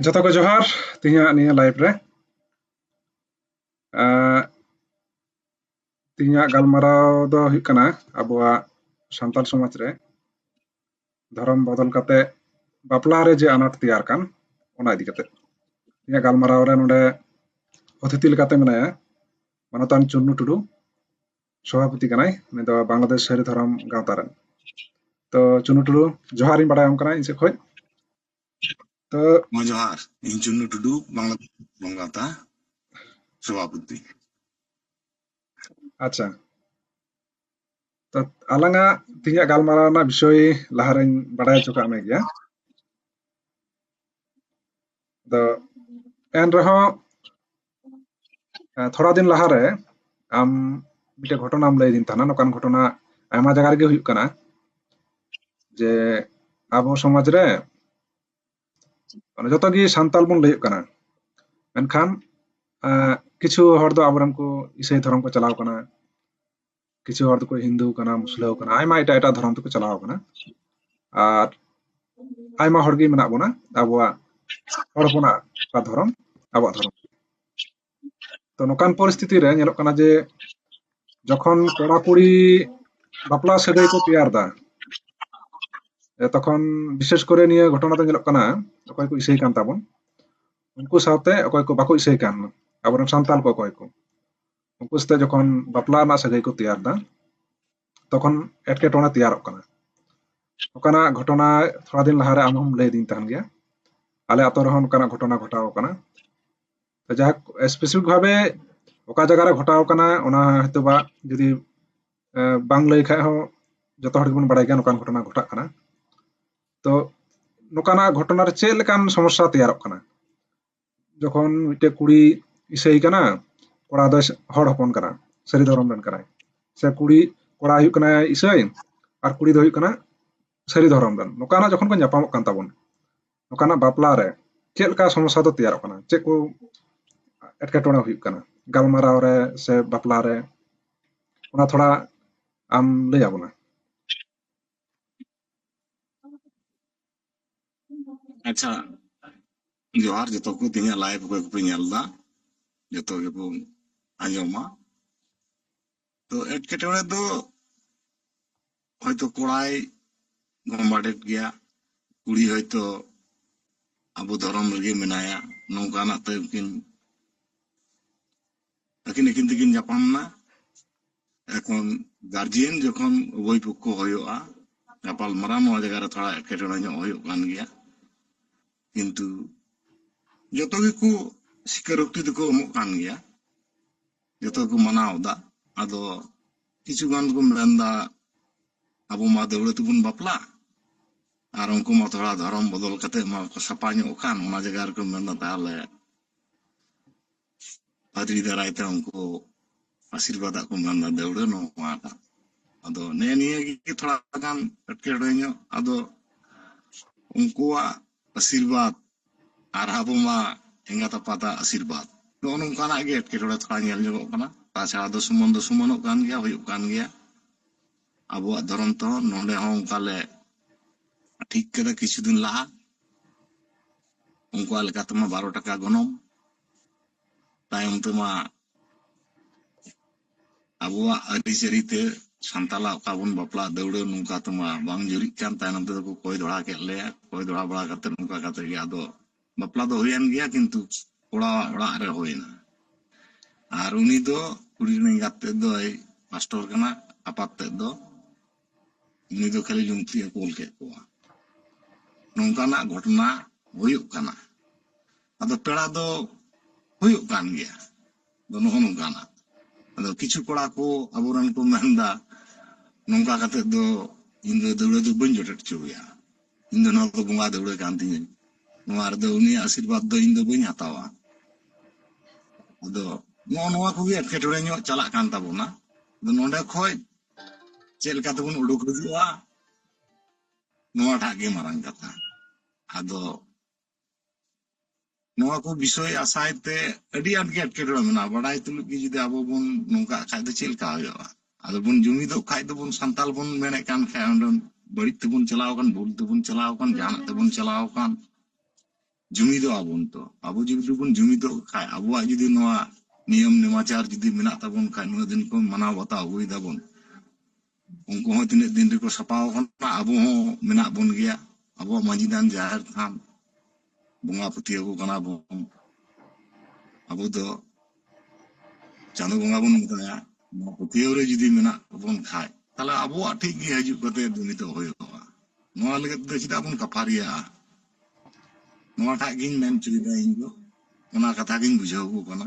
ᱡᱚᱛᱚ ᱠᱚ ᱡᱚᱦᱟᱨ ᱛᱮᱦᱮᱧᱟᱜ ᱱᱤᱭᱟᱹ ᱞᱟᱭᱤᱵ ᱨᱮ ᱛᱮᱦᱮᱧᱟᱜ ᱜᱟᱞᱢᱟᱨᱟᱣ ᱫᱚ ᱦᱩᱭᱩᱜ ᱠᱟᱱᱟ ᱟᱵᱚᱣᱟᱜ ᱥᱟᱱᱛᱟᱲ ᱥᱚᱢᱟᱡᱽ ᱨᱮ ᱫᱷᱚᱨᱚᱢ ᱵᱚᱫᱚᱞ ᱠᱟᱛᱮ ᱵᱟᱯᱞᱟ ᱨᱮ ᱡᱮ ᱟᱱᱟᱴ ᱛᱮᱭᱟᱨ ᱠᱟᱱ ᱚᱱᱟ ᱤᱫᱤ ᱠᱟᱛᱮ ᱤᱧᱟᱹᱜ ᱜᱟᱞᱢᱟᱨᱟᱣ ᱨᱮ ᱱᱚᱰᱮ ᱚᱛᱤᱛᱷᱤ ᱞᱮᱠᱟᱛᱮ ᱢᱮᱱᱟᱭᱟ ᱢᱟᱱᱚᱛᱟᱱ ᱪᱩᱱᱱᱩ ᱴᱩᱰᱩ ᱥᱚᱵᱷᱟᱯᱚᱛᱤ ᱠᱟᱱᱟᱭ ᱩᱱᱤ ᱫᱚ ᱵᱟᱝᱞᱟᱫᱮᱥ ᱥᱟᱹᱨᱤ ᱫᱷᱚᱨᱚᱢ ᱜᱟᱶᱛᱟ ᱨᱮᱱ ᱛᱚ ᱪᱩᱱᱱᱩ ᱴᱩᱰᱩ ᱡᱚᱦᱟᱨᱤᱧ ᱵᱟᱲᱟᱭᱟᱢ ᱠᱟᱱᱟ ᱤᱧ ᱥᱮᱫ ᱠᱷᱚᱱ ᱢᱟ ᱡᱚᱦᱟᱨ ᱤᱧ ᱪᱩᱱᱱᱩ ᱴᱩᱰᱩ ᱵᱟᱝᱞᱟ ᱵᱚᱝ ᱜᱟᱶᱛᱟ ᱥᱚᱵᱷᱟᱯᱚᱛᱤ ᱟᱪᱪᱷᱟ ᱟᱞᱟᱝᱟᱜ ᱛᱮᱦᱮᱧᱟᱜ ᱜᱟᱞᱢᱟᱨᱟᱣ ᱨᱮᱱᱟᱜ ᱵᱤᱥᱚᱭ ᱞᱟᱦᱟᱨᱮᱧ ᱵᱟᱰᱟᱭ ᱦᱚᱪᱚ ᱠᱟᱜ ᱢᱮ ᱜᱮᱭᱟ ᱟᱫᱚ ᱮᱱ ᱨᱮᱦᱚᱸ ᱛᱷᱚᱲᱟ ᱫᱤᱱ ᱞᱟᱦᱟᱨᱮ ᱟᱢ ᱢᱤᱫᱴᱮᱡ ᱜᱷᱚᱴᱚᱱᱟᱢ ᱞᱟᱹᱭ ᱫᱤᱧ ᱛᱟᱦᱮᱱᱟ ᱱᱚᱝᱠᱟᱱ ᱜᱷᱚᱴᱚᱱᱟ ᱟᱭᱢᱟ ᱡᱟᱭᱜᱟ ᱨᱮᱜᱮ ᱦᱩᱭᱩᱜ ᱠᱟᱱᱟ ᱡᱮ ᱟᱵᱚ ᱥᱚᱢᱟᱡᱽ ᱨᱮ ᱡᱚᱛᱚ ᱜᱮ ᱥᱟᱱᱛᱟᱞ ᱵᱚᱱ ᱞᱟᱹᱭᱚᱜ ᱠᱟᱱᱟ ᱢᱮᱱᱠᱷᱟᱱ ᱠᱤᱪᱷᱩ ᱦᱚᱲ ᱫᱚ ᱟᱵᱚᱨᱮᱱ ᱠᱚ ᱤᱥᱟᱹᱭ ᱫᱷᱚᱨᱚᱢ ᱠᱚ ᱪᱟᱞᱟᱣ ᱠᱟᱱᱟ ᱠᱤᱪᱷᱩ ᱦᱚᱲ ᱫᱚᱠᱚ ᱦᱤᱱᱫᱩ ᱠᱟᱱᱟ ᱢᱩᱥᱞᱟᱹ ᱠᱟᱱᱟ ᱟᱭᱢᱟ ᱮᱴᱟᱜ ᱮᱴᱟᱜ ᱫᱷᱚᱨᱚᱢ ᱛᱮᱠᱚ ᱪᱟᱞᱟᱣ ᱠᱟᱱᱟ ᱟᱨ ᱟᱭᱢᱟ ᱦᱚᱲ ᱜᱮ ᱢᱮᱱᱟᱜ ᱵᱚᱱᱟ ᱟᱵᱚᱣᱟᱜ ᱦᱚᱲ ᱦᱚᱯᱚᱱᱟᱜ ᱚᱠᱟ ᱫᱷᱚᱨᱚᱢ ᱟᱵᱚᱣᱟᱜ ᱫᱷᱚᱨᱚᱢ ᱛᱚ ᱱᱚᱝᱠᱟᱱ ᱯᱚᱨᱤᱥᱛᱷᱤᱛᱤ ᱨᱮ ᱧᱮᱞᱚᱜ ᱠᱟᱱᱟ ᱡᱮ ᱡᱚᱠᱷᱚᱱ ᱠᱚᱲᱟ ᱠᱩᱲᱤ ᱵᱟᱯᱞᱟ ᱥᱟᱹᱜᱟᱹᱭ ᱠᱚ ᱛᱮᱭᱟᱨ ᱫᱟ ᱛᱚᱠᱷᱚᱱ ᱵᱤᱥᱮᱥ ᱠᱚᱨᱮ ᱱᱤᱭᱟᱹ ᱜᱷᱚᱴᱚᱱᱟ ᱫᱚ ᱧᱮᱞᱚᱜ ᱠᱟᱱᱟ ᱚᱠᱚᱭ ᱠᱚ ᱤᱥᱟᱹᱭ ᱠᱟᱱ ᱛᱟᱵᱚᱱ ᱩᱱᱠᱩ ᱥᱟᱶᱛᱮ ᱚᱠᱚᱭ ᱠᱚ ᱵᱟᱠᱚ ᱤᱥᱟᱹᱭ ᱠᱟᱱ ᱟᱵᱚᱨᱮᱱ ᱥᱟᱱᱛᱟᱞ ᱠᱚ ᱚᱠᱚᱭ ᱠᱚ ᱩᱱᱠᱩ ᱥᱟᱛᱮ ᱡᱚᱠᱷᱚᱱ ᱵᱟᱯᱞᱟ ᱨᱮᱱᱟᱜ ᱥᱟᱹᱜᱟᱹᱭ ᱠᱚ ᱛᱮᱭᱟᱨ ᱮᱫᱟ ᱛᱚᱠᱷᱚᱱ ᱮᱴᱠᱮᱴᱚᱬᱮ ᱛᱮᱭᱟᱨᱚᱜ ᱠᱟᱱᱟ ᱚᱱᱠᱟᱱᱟᱜ ᱜᱷᱚᱴᱚᱱᱟ ᱛᱷᱚᱲᱟ ᱫᱤᱱ ᱞᱟᱦᱟᱨᱮ ᱟᱢ ᱦᱚᱸᱢ ᱞᱟᱹᱭ ᱫᱤᱧ ᱛᱟᱦᱮᱱ ᱜᱮᱭᱟ ᱟᱞᱮ ᱟᱛᱳ ᱨᱮᱦᱚᱸ ᱚᱱᱠᱟᱱᱟᱜ ᱜᱷᱚᱴᱚᱱᱟ ᱜᱷᱚᱴᱟᱣ ᱟᱠᱟᱱᱟ ᱡᱟᱦᱟᱸ ᱥᱯᱮᱥᱤᱯᱷᱤᱠ ᱵᱷᱟᱵᱮ ᱚᱠᱟ ᱡᱟᱭᱜᱟ ᱨᱮ ᱜᱷᱚᱴᱟᱣ ᱟᱠᱟᱱᱟ ᱚᱱᱟ ᱦᱚᱭᱛᱳ ᱵᱟ ᱡᱩᱫᱤ ᱵᱟᱝ ᱞᱟᱹᱭ ᱠᱷᱟᱡ ᱦᱚᱸ ᱡᱚᱛᱚ ᱦᱚᱲ ᱜᱮᱵᱚᱱ ᱵᱟᱲᱟᱭ ᱜᱮᱭᱟ ᱱᱚᱝᱠᱟᱱ ᱜᱷᱚᱴᱚᱱᱟ ᱜᱷᱚᱴᱟᱜ ᱠᱟᱱᱟ ᱛᱚ ᱱᱚᱝᱠᱟᱱᱟᱜ ᱜᱷᱚᱴᱚᱱᱟ ᱨᱮ ᱪᱮᱫ ᱞᱮᱠᱟᱱ ᱥᱚᱢᱚᱥᱥᱟ ᱛᱮᱭᱟᱨᱚᱜ ᱠᱟᱱᱟ ᱡᱚᱠᱷᱚᱱ ᱢᱤᱫᱴᱮᱡ ᱠᱩᱲᱤ ᱤᱥᱟᱹᱭ ᱠᱟᱱᱟ ᱠᱚᱲᱟ ᱫᱚ ᱦᱚᱲ ᱦᱚᱯᱚᱱ ᱠᱟᱱᱟ ᱥᱟᱹᱨᱤ ᱫᱷᱚᱨᱚᱢ ᱨᱮᱱ ᱠᱟᱱᱟᱭ ᱥᱮ ᱠᱩᱲᱤ ᱠᱚᱲᱟ ᱦᱩᱭᱩᱜ ᱠᱟᱱᱟ ᱤᱥᱟᱹᱭ ᱟᱨ ᱠᱩᱲᱤ ᱫᱚ ᱦᱩᱭᱩᱜ ᱠᱟᱱᱟ ᱥᱟᱹᱨᱤ ᱫᱷᱚᱨᱚᱢ ᱨᱮᱱ ᱱᱚᱝᱠᱟᱱᱟᱜ ᱡᱚᱠᱷᱚᱱ ᱠᱚ ᱧᱟᱯᱟᱢᱚᱜ ᱠᱟᱱ ᱛᱟᱵᱚᱱ ᱱᱚᱝᱠᱟᱱᱟᱜ ᱵᱟᱯᱞᱟ ᱨᱮ ᱪᱮᱫ ᱞᱮᱠᱟ ᱥᱚᱢᱚᱥᱥᱟ ᱫᱚ ᱛᱮᱭᱟᱨᱚᱜ ᱠᱟᱱᱟ ᱪᱮᱫ ᱠᱚ ᱮᱴᱠᱮᱴᱚᱬᱮ ᱦᱩᱭᱩᱜ ᱠᱟᱱᱟ ᱜᱟᱞᱢᱟᱨᱟᱣ ᱨᱮ ᱥᱮ ᱵᱟᱯᱞᱟ ᱨᱮ ᱚᱱᱟ ᱛᱷᱚᱲᱟ ᱟᱢ ᱞᱟᱹᱭ ᱟᱵᱚᱱᱟ ᱟᱪᱪᱷᱟ ᱡᱚᱦᱟᱨ ᱡᱚᱛᱚ ᱠᱚ ᱛᱮᱦᱮᱧᱟᱜ ᱞᱟᱭᱤᱵᱷ ᱚᱠᱚᱭ ᱠᱚᱯᱮ ᱧᱮᱞ ᱮᱫᱟ ᱡᱚᱛᱚ ᱜᱮᱵᱚ ᱟᱸᱡᱚᱢᱟ ᱛᱚ ᱮᱴᱠᱮᱴᱚᱬᱮ ᱫᱚ ᱦᱚᱭᱛᱚ ᱠᱚᱲᱟᱭ ᱜᱚᱢᱵᱟᱰᱮᱫ ᱜᱮᱭᱟ ᱠᱩᱲᱤ ᱦᱚᱭᱛᱚ ᱟᱵᱚ ᱫᱷᱚᱨᱚᱢ ᱨᱮᱜᱮ ᱢᱮᱱᱟᱭᱟ ᱱᱚᱝᱠᱟᱱᱟᱜ ᱛᱮ ᱩᱱᱠᱤᱱ ᱟᱹᱠᱤᱱ ᱟᱹᱠᱤᱱ ᱛᱮᱠᱤᱱ ᱧᱟᱯᱟᱢ ᱮᱱᱟ ᱮᱠᱷᱚᱱ ᱜᱟᱨᱡᱮᱱ ᱡᱚᱠᱷᱚᱱ ᱩᱵᱷᱚᱭ ᱯᱚᱠᱠᱷᱚ ᱦᱩᱭᱩᱜᱼᱟ ᱜᱟᱯᱟᱞ ᱢᱟᱨᱟᱣ ᱱᱚᱣᱟ ᱡᱟᱭᱜᱟ ᱨᱮ ᱛᱷᱚᱲᱟ ᱮᱴᱠᱮᱴᱚᱬᱮ ᱧᱚᱜ ᱦᱩᱭᱩᱜ ᱠᱟᱱ ᱜᱮᱭᱟ ᱠᱤᱱᱛᱩ ᱡᱚᱛᱚ ᱜᱮᱠᱚ ᱥᱤᱠᱟᱨᱳᱠᱛᱤ ᱫᱚᱠᱚ ᱮᱢᱚᱜ ᱠᱟᱱ ᱜᱮᱭᱟ ᱡᱚᱛᱚ ᱠᱚ ᱢᱟᱱᱟᱣ ᱮᱫᱟ ᱟᱫᱚ ᱠᱤᱪᱷᱩ ᱜᱟᱱ ᱫᱚᱠᱚ ᱢᱮᱱᱫᱟ ᱟᱵᱚ ᱢᱟ ᱫᱟᱹᱣᱲᱟᱹ ᱛᱮᱵᱚᱱ ᱵᱟᱯᱞᱟ ᱟᱨ ᱩᱱᱠᱩ ᱢᱟ ᱛᱷᱚᱲᱟ ᱫᱷᱚᱨᱚᱢ ᱵᱚᱫᱚᱞ ᱠᱟᱛᱮ ᱢᱟ ᱠᱚ ᱥᱟᱯᱟ ᱧᱚᱜ ᱠᱟᱱ ᱚᱱᱟ ᱡᱟᱭᱜᱟ ᱨᱮᱠᱚ ᱢᱮᱱᱫᱟ ᱛᱟᱦᱚᱞᱮ ᱯᱟᱫᱽᱨᱤ ᱫᱟᱨᱟᱭ ᱛᱮ ᱩᱱᱠᱩ ᱟᱥᱤᱨᱵᱟᱫ ᱠᱚ ᱢᱟᱱ ᱫᱟ ᱫᱟᱹᱣᱲᱟᱹ ᱱᱚᱣᱟᱴᱟᱜ ᱟᱫᱚ ᱱᱮ ᱱᱤᱭᱟᱹ ᱜᱮ ᱛᱷᱚᱲᱟ ᱜᱟᱱ ᱮᱴᱠᱮᱴᱚᱬᱮ ᱧᱚᱜ ᱟᱫᱚ ᱩᱱᱠᱩᱣᱟᱜ ᱟᱥᱤᱨᱵᱟᱫ ᱟᱨ ᱟᱵᱚ ᱢᱟ ᱮᱸᱜᱟᱛ ᱟᱯᱟᱛᱟᱜ ᱟᱥᱤᱨᱵᱟᱫ ᱱᱚᱜᱼᱚ ᱱᱚᱝᱠᱟᱱᱟᱜ ᱜᱮ ᱮᱴᱠᱮᱴᱚᱬᱮ ᱛᱷᱚᱲᱟ ᱧᱮᱞ ᱧᱚᱜᱚᱜ ᱠᱟᱱᱟ ᱛᱟᱪᱷᱟᱲᱟ ᱫᱚ ᱥᱩᱢᱟᱱ ᱫᱚ ᱥᱩᱢᱟᱱᱚᱜ ᱠᱟᱱ ᱜᱮᱭᱟ ᱦᱩᱭᱩᱜ ᱠᱟᱱ ᱜᱮᱭᱟ ᱟᱵᱚᱣᱟᱜ ᱫᱷᱚᱨᱚᱢ ᱛᱮᱦᱚᱸ ᱱᱚᱰᱮ ᱦᱚᱸ ᱚᱱᱠᱟ ᱞᱮ ᱴᱷᱤᱠ ᱠᱮᱫᱟ ᱠᱤᱪᱷᱩ ᱫᱤᱱ ᱞᱟᱦᱟ ᱩᱱᱠᱩᱣᱟᱜ ᱞᱮᱠᱟ ᱛᱮᱢᱟ ᱵᱟᱨᱚ ᱴᱟᱠᱟ ᱜᱚᱱᱚᱝ ᱛᱟᱭᱚᱢ ᱛᱮᱢᱟ ᱟᱵᱚᱣᱟᱜ ᱟᱹᱨᱤᱪᱟᱹᱞᱤ ᱛᱮ ᱥᱟᱱᱛᱟᱞᱟᱜ ᱚᱠᱟ ᱵᱚᱱ ᱵᱟᱯᱞᱟ ᱫᱟᱹᱣᱲᱟᱹ ᱱᱚᱝᱠᱟ ᱛᱮᱢᱟ ᱵᱟᱝ ᱡᱩᱨᱤᱜ ᱠᱟᱱ ᱛᱟᱭᱱᱚᱢ ᱛᱮᱫᱚ ᱠᱚ ᱠᱚᱭ ᱫᱚᱲᱦᱟ ᱠᱮᱫ ᱞᱮᱭᱟ ᱠᱚᱭ ᱫᱚᱲᱦᱟ ᱵᱟᱲᱟ ᱠᱟᱛᱮ ᱱᱚᱝᱠᱟ ᱠᱟᱛᱮ ᱜᱮ ᱟᱫᱚ ᱵᱟᱯᱞᱟ ᱫᱚ ᱦᱩᱭᱮᱱ ᱜᱮᱭᱟ ᱠᱤᱱᱛᱩ ᱠᱚᱲᱟ ᱚᱲᱟᱜ ᱨᱮ ᱦᱩᱭᱱᱟ ᱟᱨ ᱩᱱᱤ ᱫᱚ ᱠᱩᱲᱤ ᱨᱮᱱ ᱮᱸᱜᱟᱛ ᱛᱮᱫ ᱫᱚᱭ ᱢᱟᱥᱴᱚᱨ ᱠᱟᱱᱟ ᱟᱯᱟᱛ ᱛᱮᱫ ᱫᱚ ᱩᱱᱤ ᱫᱚ ᱠᱷᱟᱹᱞᱤ ᱞᱩᱝᱛᱤ ᱮ ᱠᱳᱞ ᱠᱮᱫ ᱠᱚᱣᱟ ᱱᱚᱝᱠᱟᱱᱟᱜ ᱜᱷᱚᱴᱚᱱᱟ ᱦᱩᱭᱩᱜ ᱠᱟᱱᱟ ᱟᱫᱚ ᱯᱮᱲᱟ ᱫᱚ ᱦᱩᱭᱩᱜ ᱠᱟᱱ ᱜᱮᱭᱟ ᱫᱚ ᱱᱚᱜᱼᱚ ᱱᱚᱝᱠᱟᱱᱟ ᱟᱫᱚ ᱠᱤᱪᱷᱩ ᱠᱚᱲᱟ ᱠᱚ ᱟᱵᱚᱨᱮᱱ ᱠᱚ ᱢᱮᱱᱫᱟ ᱱᱚᱝᱠᱟ ᱠᱟᱛᱮ ᱫᱚ ᱤᱧ ᱫᱚ ᱫᱟᱹᱣᱲᱟᱹ ᱫᱚ ᱵᱟᱹᱧ ᱡᱚᱴᱮᱫ ᱦᱚᱪᱚᱣᱟᱭᱟ ᱤᱧ ᱫᱚ ᱱᱚᱣᱟ ᱫᱚ ᱵᱚᱸᱜᱟ ᱫᱟᱹᱣᱲᱟᱹ ᱠᱟᱱ ᱛᱤᱧᱟᱹ ᱱᱚᱣᱟ ᱨᱮᱫᱚ ᱩᱱᱤᱭᱟᱜ ᱟᱥᱤᱨᱵᱟᱫᱽ ᱫᱚ ᱤᱧ ᱫᱚ ᱵᱟᱹᱧ ᱦᱟᱛᱟᱣᱟ ᱟᱫᱚ ᱱᱚᱜᱼᱚ ᱱᱚᱣᱟ ᱠᱚᱜᱮ ᱮᱴᱠᱮᱴᱚᱬᱮ ᱧᱚᱜ ᱪᱟᱞᱟᱜ ᱠᱟᱱ ᱛᱟᱵᱚᱱᱟ ᱟᱫᱚ ᱱᱚᱰᱮ ᱠᱷᱚᱡ ᱪᱮᱫ ᱞᱮᱠᱟ ᱛᱮᱵᱚᱱ ᱩᱰᱩᱠ ᱦᱤᱡᱩᱜᱼᱟ ᱱᱚᱣᱟᱴᱟᱜ ᱜᱮ ᱢᱟᱨᱟᱝ ᱠᱟᱛᱷᱟ ᱟᱫᱚ ᱱᱚᱣᱟ ᱠᱚ ᱵᱤᱥᱚᱭ ᱟᱥᱟᱭ ᱛᱮ ᱟᱹᱰᱤ ᱟᱸᱴ ᱜᱮ ᱮᱴᱠᱮᱴᱚᱬᱮ ᱢᱮᱱᱟᱜᱼᱟ ᱵᱟᱰᱟᱭ ᱛᱩᱞᱩᱡ ᱜᱮ ᱡᱩᱫᱤ ᱟᱵᱚ ᱵᱚᱱ ᱱᱚᱝᱠᱟᱜ ᱠᱷᱟᱡ ᱫᱚ ᱪᱮᱫ ᱞᱮᱠᱟ ᱦᱩᱭᱩᱜᱼᱟ ᱟᱫᱚ ᱵᱚᱱ ᱡᱩᱢᱤᱫᱚᱜ ᱠᱷᱟᱡ ᱫᱚᱵᱚᱱ ᱥᱟᱱᱛᱟᱞ ᱵᱚᱱ ᱢᱮᱱᱮᱫ ᱠᱟᱱ ᱠᱷᱟᱡ ᱚᱸᱰᱮ ᱵᱟᱹᱲᱤᱡ ᱛᱮᱵᱚᱱ ᱪᱟᱞᱟᱣ ᱠᱟᱱ ᱵᱷᱩᱞ ᱛᱮᱵᱚᱱ ᱪᱟᱞᱟᱣ ᱠᱟᱱ ᱡᱟᱦᱟᱱᱟᱜ ᱛᱮᱵᱚᱱ ᱪᱟᱞᱟᱣ ᱠᱟᱱ ᱡᱩᱢᱤᱫᱚᱜ ᱟᱵᱚᱱ ᱛᱚ ᱟᱵᱚ ᱡᱩᱫᱤ ᱵᱚᱱ ᱡᱩᱢᱤᱫᱚᱜ ᱠᱷᱟᱡ ᱟᱵᱚᱣᱟᱜ ᱡᱩᱫᱤ ᱱᱚᱣᱟ ᱱᱤᱭᱚᱢ ᱱᱮᱢᱟᱪᱟᱨ ᱡᱩᱫᱤ ᱢᱮᱱᱟᱜ ᱛᱟᱵᱚᱱ ᱠᱷᱟᱡ ᱱᱩᱱᱟᱹᱜ ᱫᱤᱱ ᱠᱷᱚᱱ ᱢᱟᱱᱟᱣ ᱵᱟᱛᱟᱣ ᱟᱹᱜᱩᱭ ᱫᱟᱵᱚᱱ ᱩᱱᱠᱩ ᱦᱚᱸ ᱛᱤᱱᱟᱹᱜ ᱫᱤᱱ ᱨᱮᱠᱚ ᱥᱟᱯᱟᱣ ᱠᱟᱱᱟ ᱟᱵᱚ ᱦᱚᱸ ᱢᱮᱱᱟᱜ ᱵᱚᱱ ᱜᱮᱭᱟ ᱟᱵᱚᱣᱟᱜ ᱢᱟᱺᱡᱷᱤ ᱫᱟᱱ ᱡᱟᱦᱮᱨ ᱛᱷᱟᱱ ᱵᱚᱸᱜᱟ ᱯᱟᱹᱛᱭᱟᱹᱣ ᱠᱚ ᱠᱟᱱᱟ ᱵᱚᱱ ᱟᱵᱚ ᱫᱚ ᱪᱟᱸᱫᱚ ᱵᱚᱸᱜᱟ ᱵᱚᱱ ᱢᱮᱛᱟᱭᱟ ᱱᱚᱣᱟ ᱯᱟᱹᱛᱭᱟᱹᱣ ᱨᱮ ᱡᱩᱫᱤ ᱢᱮᱱᱟᱜ ᱵᱚᱱ ᱠᱷᱟᱡ ᱛᱟᱦᱞᱮ ᱟᱵᱚᱣᱟᱜ ᱴᱷᱤᱠ ᱜᱮ ᱦᱤᱡᱩᱜ ᱠᱟᱛᱮ ᱱᱤᱛᱚᱜ ᱦᱩᱭᱩᱜᱼᱟ ᱱᱚᱣᱟ ᱞᱟᱹᱜᱤᱫ ᱫᱚ ᱪᱮᱫᱟᱜ ᱵᱚᱱ ᱠᱟᱯᱷᱟᱨᱤᱭᱟᱜᱼᱟ ᱱᱚᱣᱟᱴᱟᱜ ᱜᱤᱧ ᱢᱮᱱ ᱦᱚᱪᱚᱭᱮᱫᱟ ᱤᱧ ᱫᱚ ᱚᱱᱟ ᱠᱟᱛᱷᱟ ᱜᱤᱧ ᱵᱩᱡᱷᱟᱹᱣ ᱠᱚ ᱠᱟᱱᱟ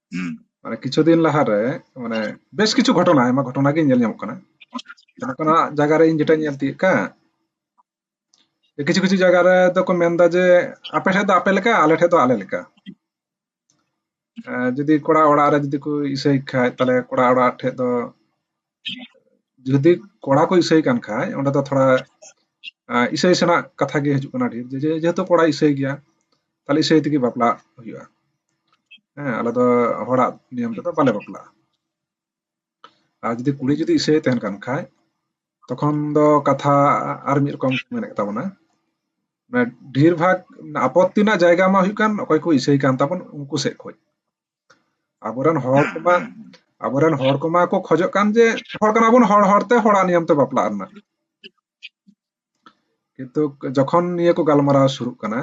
ᱢᱟᱱᱮ ᱠᱤᱪᱷᱩ ᱫᱤᱱ ᱞᱟᱦᱟᱨᱮ ᱢᱟᱱᱮ ᱵᱮᱥ ᱠᱤᱪᱷᱩ ᱜᱷᱚᱴᱚᱱᱟ ᱟᱭᱢᱟ ᱜᱷᱚᱴᱚᱱᱟ ᱜᱮ ᱧᱮᱞ ᱧᱟᱢᱚᱜ ᱠᱟᱱᱟ ᱡᱟᱦᱟᱸ ᱠᱟᱱᱟ ᱡᱟᱭᱜᱟ ᱨᱮ ᱤᱧ ᱡᱮᱴᱟ ᱧᱮᱞ ᱛᱤᱭᱳᱜ ᱠᱟᱱ ᱠᱤᱪᱷᱩ ᱠᱤᱪᱷᱩ ᱡᱟᱭᱜᱟ ᱨᱮ ᱫᱚᱠᱚ ᱢᱮᱱᱫᱟ ᱡᱮ ᱟᱯᱮ ᱴᱷᱮᱡ ᱫᱚ ᱟᱯᱮ ᱞᱮᱠᱟ ᱟᱞᱮ ᱴᱷᱮᱡ ᱫᱚ ᱟᱞᱮ ᱞᱮᱠᱟ ᱡᱩᱫᱤ ᱠᱚᱲᱟ ᱚᱲᱟᱜ ᱨᱮ ᱡᱩᱫᱤ ᱠᱚ ᱤᱥᱟᱹᱭ ᱠᱷᱟᱡ ᱛᱟᱦᱞᱮ ᱠᱚᱲᱟ ᱚᱲᱟᱜ ᱴᱷᱮᱡ ᱫᱚ ᱡᱩᱫᱤ ᱠᱚᱲᱟ ᱠᱚ ᱤᱥᱟᱹᱭ ᱠᱟᱱ ᱠᱷᱟᱡ ᱚᱸᱰᱮ ᱫᱚ ᱛᱷᱚᱲᱟ ᱤᱥᱟᱹᱭ ᱥᱮᱱᱟᱜ ᱠᱟᱛᱷᱟ ᱜᱮ ᱦᱤᱡᱩᱜ ᱠᱟᱱᱟ ᱰᱷᱮᱨ ᱡᱮ ᱡᱮᱦᱮᱛᱩ ᱠᱚᱲᱟᱭ ᱤᱥᱟᱹᱭ ᱜᱮᱭᱟ ᱛᱟᱦᱞᱮ ᱤᱥᱟᱹᱭ ᱛᱮᱜᱮ ᱵᱟᱯᱞᱟ ᱦᱩᱭᱩᱜᱼᱟ ᱦᱮᱸ ᱟᱞᱮ ᱫᱚ ᱦᱚᱲᱟᱜ ᱱᱤᱭᱚᱢ ᱛᱮᱫᱚ ᱵᱟᱞᱮ ᱵᱟᱯᱞᱟᱜᱼᱟ ᱟᱨ ᱡᱩᱫᱤ ᱠᱩᱲᱤ ᱡᱩᱫᱤ ᱤᱥᱟᱹᱭ ᱛᱟᱦᱮᱱ ᱠᱟᱱ ᱠᱷᱟᱡ ᱛᱚᱠᱷᱚᱱ ᱫᱚ ᱠᱟᱛᱷᱟ ᱟᱨ ᱢᱤᱫ ᱨᱚᱠᱚᱢ ᱢᱮᱱᱮᱫ ᱛᱟᱵᱚᱱᱟ ᱰᱷᱮᱨ ᱵᱷᱟᱜ ᱟᱯᱚᱛᱛᱤ ᱨᱮᱱᱟᱜ ᱡᱟᱭᱜᱟ ᱢᱟ ᱦᱩᱭᱩᱜ ᱠᱟᱱ ᱚᱠᱚᱭ ᱠᱚ ᱤᱥᱟᱹᱭ ᱠᱟᱱ ᱛᱟᱵᱚᱱ ᱩᱱᱠᱩ ᱥᱮᱫ ᱠᱷᱚᱡ ᱟᱵᱚᱨᱮᱱ ᱦᱚᱲ ᱠᱚᱢᱟ ᱟᱵᱚᱨᱮᱱ ᱦᱚᱲ ᱠᱚᱢᱟ ᱠᱚ ᱠᱷᱚᱡᱚᱜ ᱠᱟᱱ ᱡᱮ ᱦᱚᱲ ᱠᱟᱱᱟ ᱵᱚᱱ ᱦᱚᱲ ᱦᱚᱲᱛᱮ ᱦᱚᱲᱟᱜ ᱱᱤᱭᱚᱢ ᱛᱮ ᱵᱟᱯᱞᱟᱜ ᱨᱮᱱᱟᱜ ᱠᱤᱱᱛᱩ ᱡᱚᱠᱷᱚᱱ ᱱᱤᱭᱟᱹ ᱠᱚ ᱜᱟᱞᱢᱟᱨᱟᱣ ᱥᱩᱨᱩᱜ ᱠᱟᱱᱟ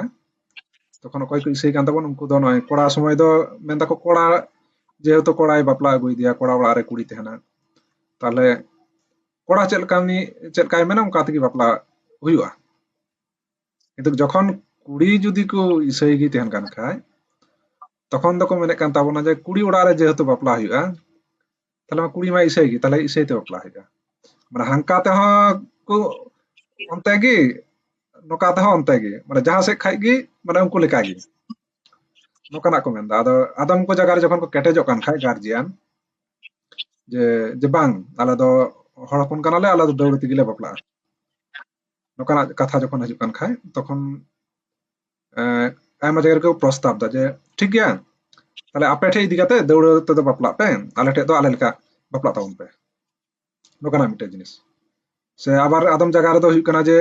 ᱛᱚᱠᱷᱚᱱ ᱚᱠᱚᱭ ᱠᱚ ᱤᱥᱟᱹᱭ ᱠᱟᱱ ᱛᱟᱵᱚᱱ ᱩᱱᱠᱩ ᱫᱚ ᱱᱚᱜᱼᱚᱭ ᱠᱚᱲᱟ ᱥᱚᱢᱚᱭ ᱫᱚ ᱢᱮᱱ ᱫᱟᱠᱚ ᱠᱚᱲᱟ ᱡᱮᱦᱮᱛᱩ ᱠᱚᱲᱟᱭ ᱵᱟᱯᱞᱟ ᱟᱹᱜᱩᱭᱮᱫᱮᱭᱟ ᱠᱚᱲᱟ ᱚᱲᱟᱜ ᱨᱮ ᱠᱩᱲᱤ ᱛᱟᱦᱮᱱᱟ ᱛᱟᱦᱞᱮ ᱠᱚᱲᱟ ᱪᱮᱫ ᱞᱮᱠᱟ ᱩᱱᱤ ᱪᱮᱫ ᱞᱮᱠᱟᱭ ᱢᱮᱱᱟ ᱚᱱᱠᱟ ᱛᱮᱜᱮ ᱵᱟᱯᱞᱟ ᱦᱩᱭᱩᱜᱼᱟ ᱠᱤᱱᱛᱩ ᱡᱚᱠᱷᱚᱱ ᱠᱩᱲᱤ ᱡᱩᱫᱤ ᱠᱚ ᱤᱥᱟᱹᱭ ᱜᱮ ᱛᱟᱦᱮᱱ ᱠᱟᱱ ᱠᱷᱟᱡ ᱛᱚᱠᱷᱚᱱ ᱫᱚᱠᱚ ᱢᱮᱱᱮᱫ ᱠᱟᱱ ᱛᱟᱵᱚᱱᱟ ᱡᱮ ᱠᱩᱲᱤ ᱚᱲᱟᱜ ᱨᱮ ᱡᱮᱦᱮᱛᱩ ᱵᱟᱯᱞᱟ ᱦᱩᱭᱩᱜᱼᱟ ᱛᱟᱦᱞᱮ ᱢᱟ ᱠᱩᱲᱤ ᱢᱟ ᱤᱥᱟᱹᱭ ᱜᱮ ᱛᱟᱦᱞᱮ ᱤᱥᱟᱹᱭ ᱛᱮ ᱵᱟᱯᱞᱟ ᱦᱩᱭᱩᱜᱼᱟ ᱢᱟᱱᱮ ᱦᱟᱱᱠᱟ ᱛᱮᱦᱚᱸ ᱠᱚ ᱚᱱᱛᱮ ᱜᱮ ᱱᱚᱝᱠᱟ ᱛᱮᱦᱚᱸ ᱚᱱᱛᱮ ᱜᱮ ᱢᱟᱱᱮ ᱡᱟᱦᱟᱸ ᱥᱮᱫ ᱠᱷᱟᱡ ᱜᱮ ᱢᱟᱱᱮ ᱩᱱᱠᱩ ᱞᱮᱠᱟ ᱜᱮ ᱱᱚᱝᱠᱟᱱᱟᱜ ᱠᱚ ᱢᱮᱱᱫᱟ ᱟᱫᱚ ᱟᱫᱚᱢ ᱠᱚ ᱡᱟᱭᱜᱟ ᱨᱮ ᱡᱚᱠᱷᱚᱱ ᱠᱚ ᱠᱮᱴᱮᱡᱚᱜ ᱠᱟᱱ ᱠᱷᱟᱡ ᱜᱟᱨᱡᱤᱭᱟᱱ ᱡᱮ ᱡᱮ ᱵᱟᱝ ᱟᱞᱮ ᱫᱚ ᱦᱚᱲ ᱦᱚᱯᱚᱱ ᱠᱟᱱᱟᱞᱮ ᱟᱞᱮ ᱫᱚ ᱫᱟᱹᱣᱲᱟᱹ ᱛᱮᱜᱮ ᱞᱮ ᱵᱟᱯᱞᱟᱜᱼᱟ ᱱᱚᱝᱠᱟᱱᱟᱜ ᱠᱟᱛᱷᱟ ᱡᱚᱠᱷᱚᱱ ᱦᱤᱡᱩᱜ ᱠᱟᱱ ᱠᱷᱟᱡ ᱛᱚᱠᱷᱚᱱ ᱟᱭᱢᱟ ᱡᱟᱭᱜᱟ ᱨᱮᱠᱚ ᱯᱨᱚᱥᱛᱟᱵ ᱫᱟ ᱡᱮ ᱴᱷᱤᱠ ᱜᱮᱭᱟ ᱛᱟᱦᱞᱮ ᱟᱯᱮ ᱴᱷᱮᱡ ᱤᱫᱤ ᱠᱟᱛᱮ ᱫᱟᱹᱣᱲᱟᱹ ᱛᱮᱫᱚ ᱵᱟᱯᱞᱟᱜ ᱯᱮ ᱟᱞᱮ ᱴᱷᱮᱡ ᱫᱚ ᱟᱞᱮ ᱞᱮᱠᱟ ᱵᱟᱯᱞᱟᱜ ᱛᱟᱵᱚᱱ ᱯᱮ ᱱᱚᱝᱠᱟᱱᱟᱜ ᱢᱤᱫᱴᱮᱡ ᱡᱤᱱᱤᱥ ᱥᱮ ᱟᱵᱟᱨ ᱟᱫᱚᱢ ᱡᱟᱭᱜᱟ ᱨᱮᱫᱚ ᱦᱩᱭᱩᱜ ᱠᱟᱱᱟ ᱡᱮ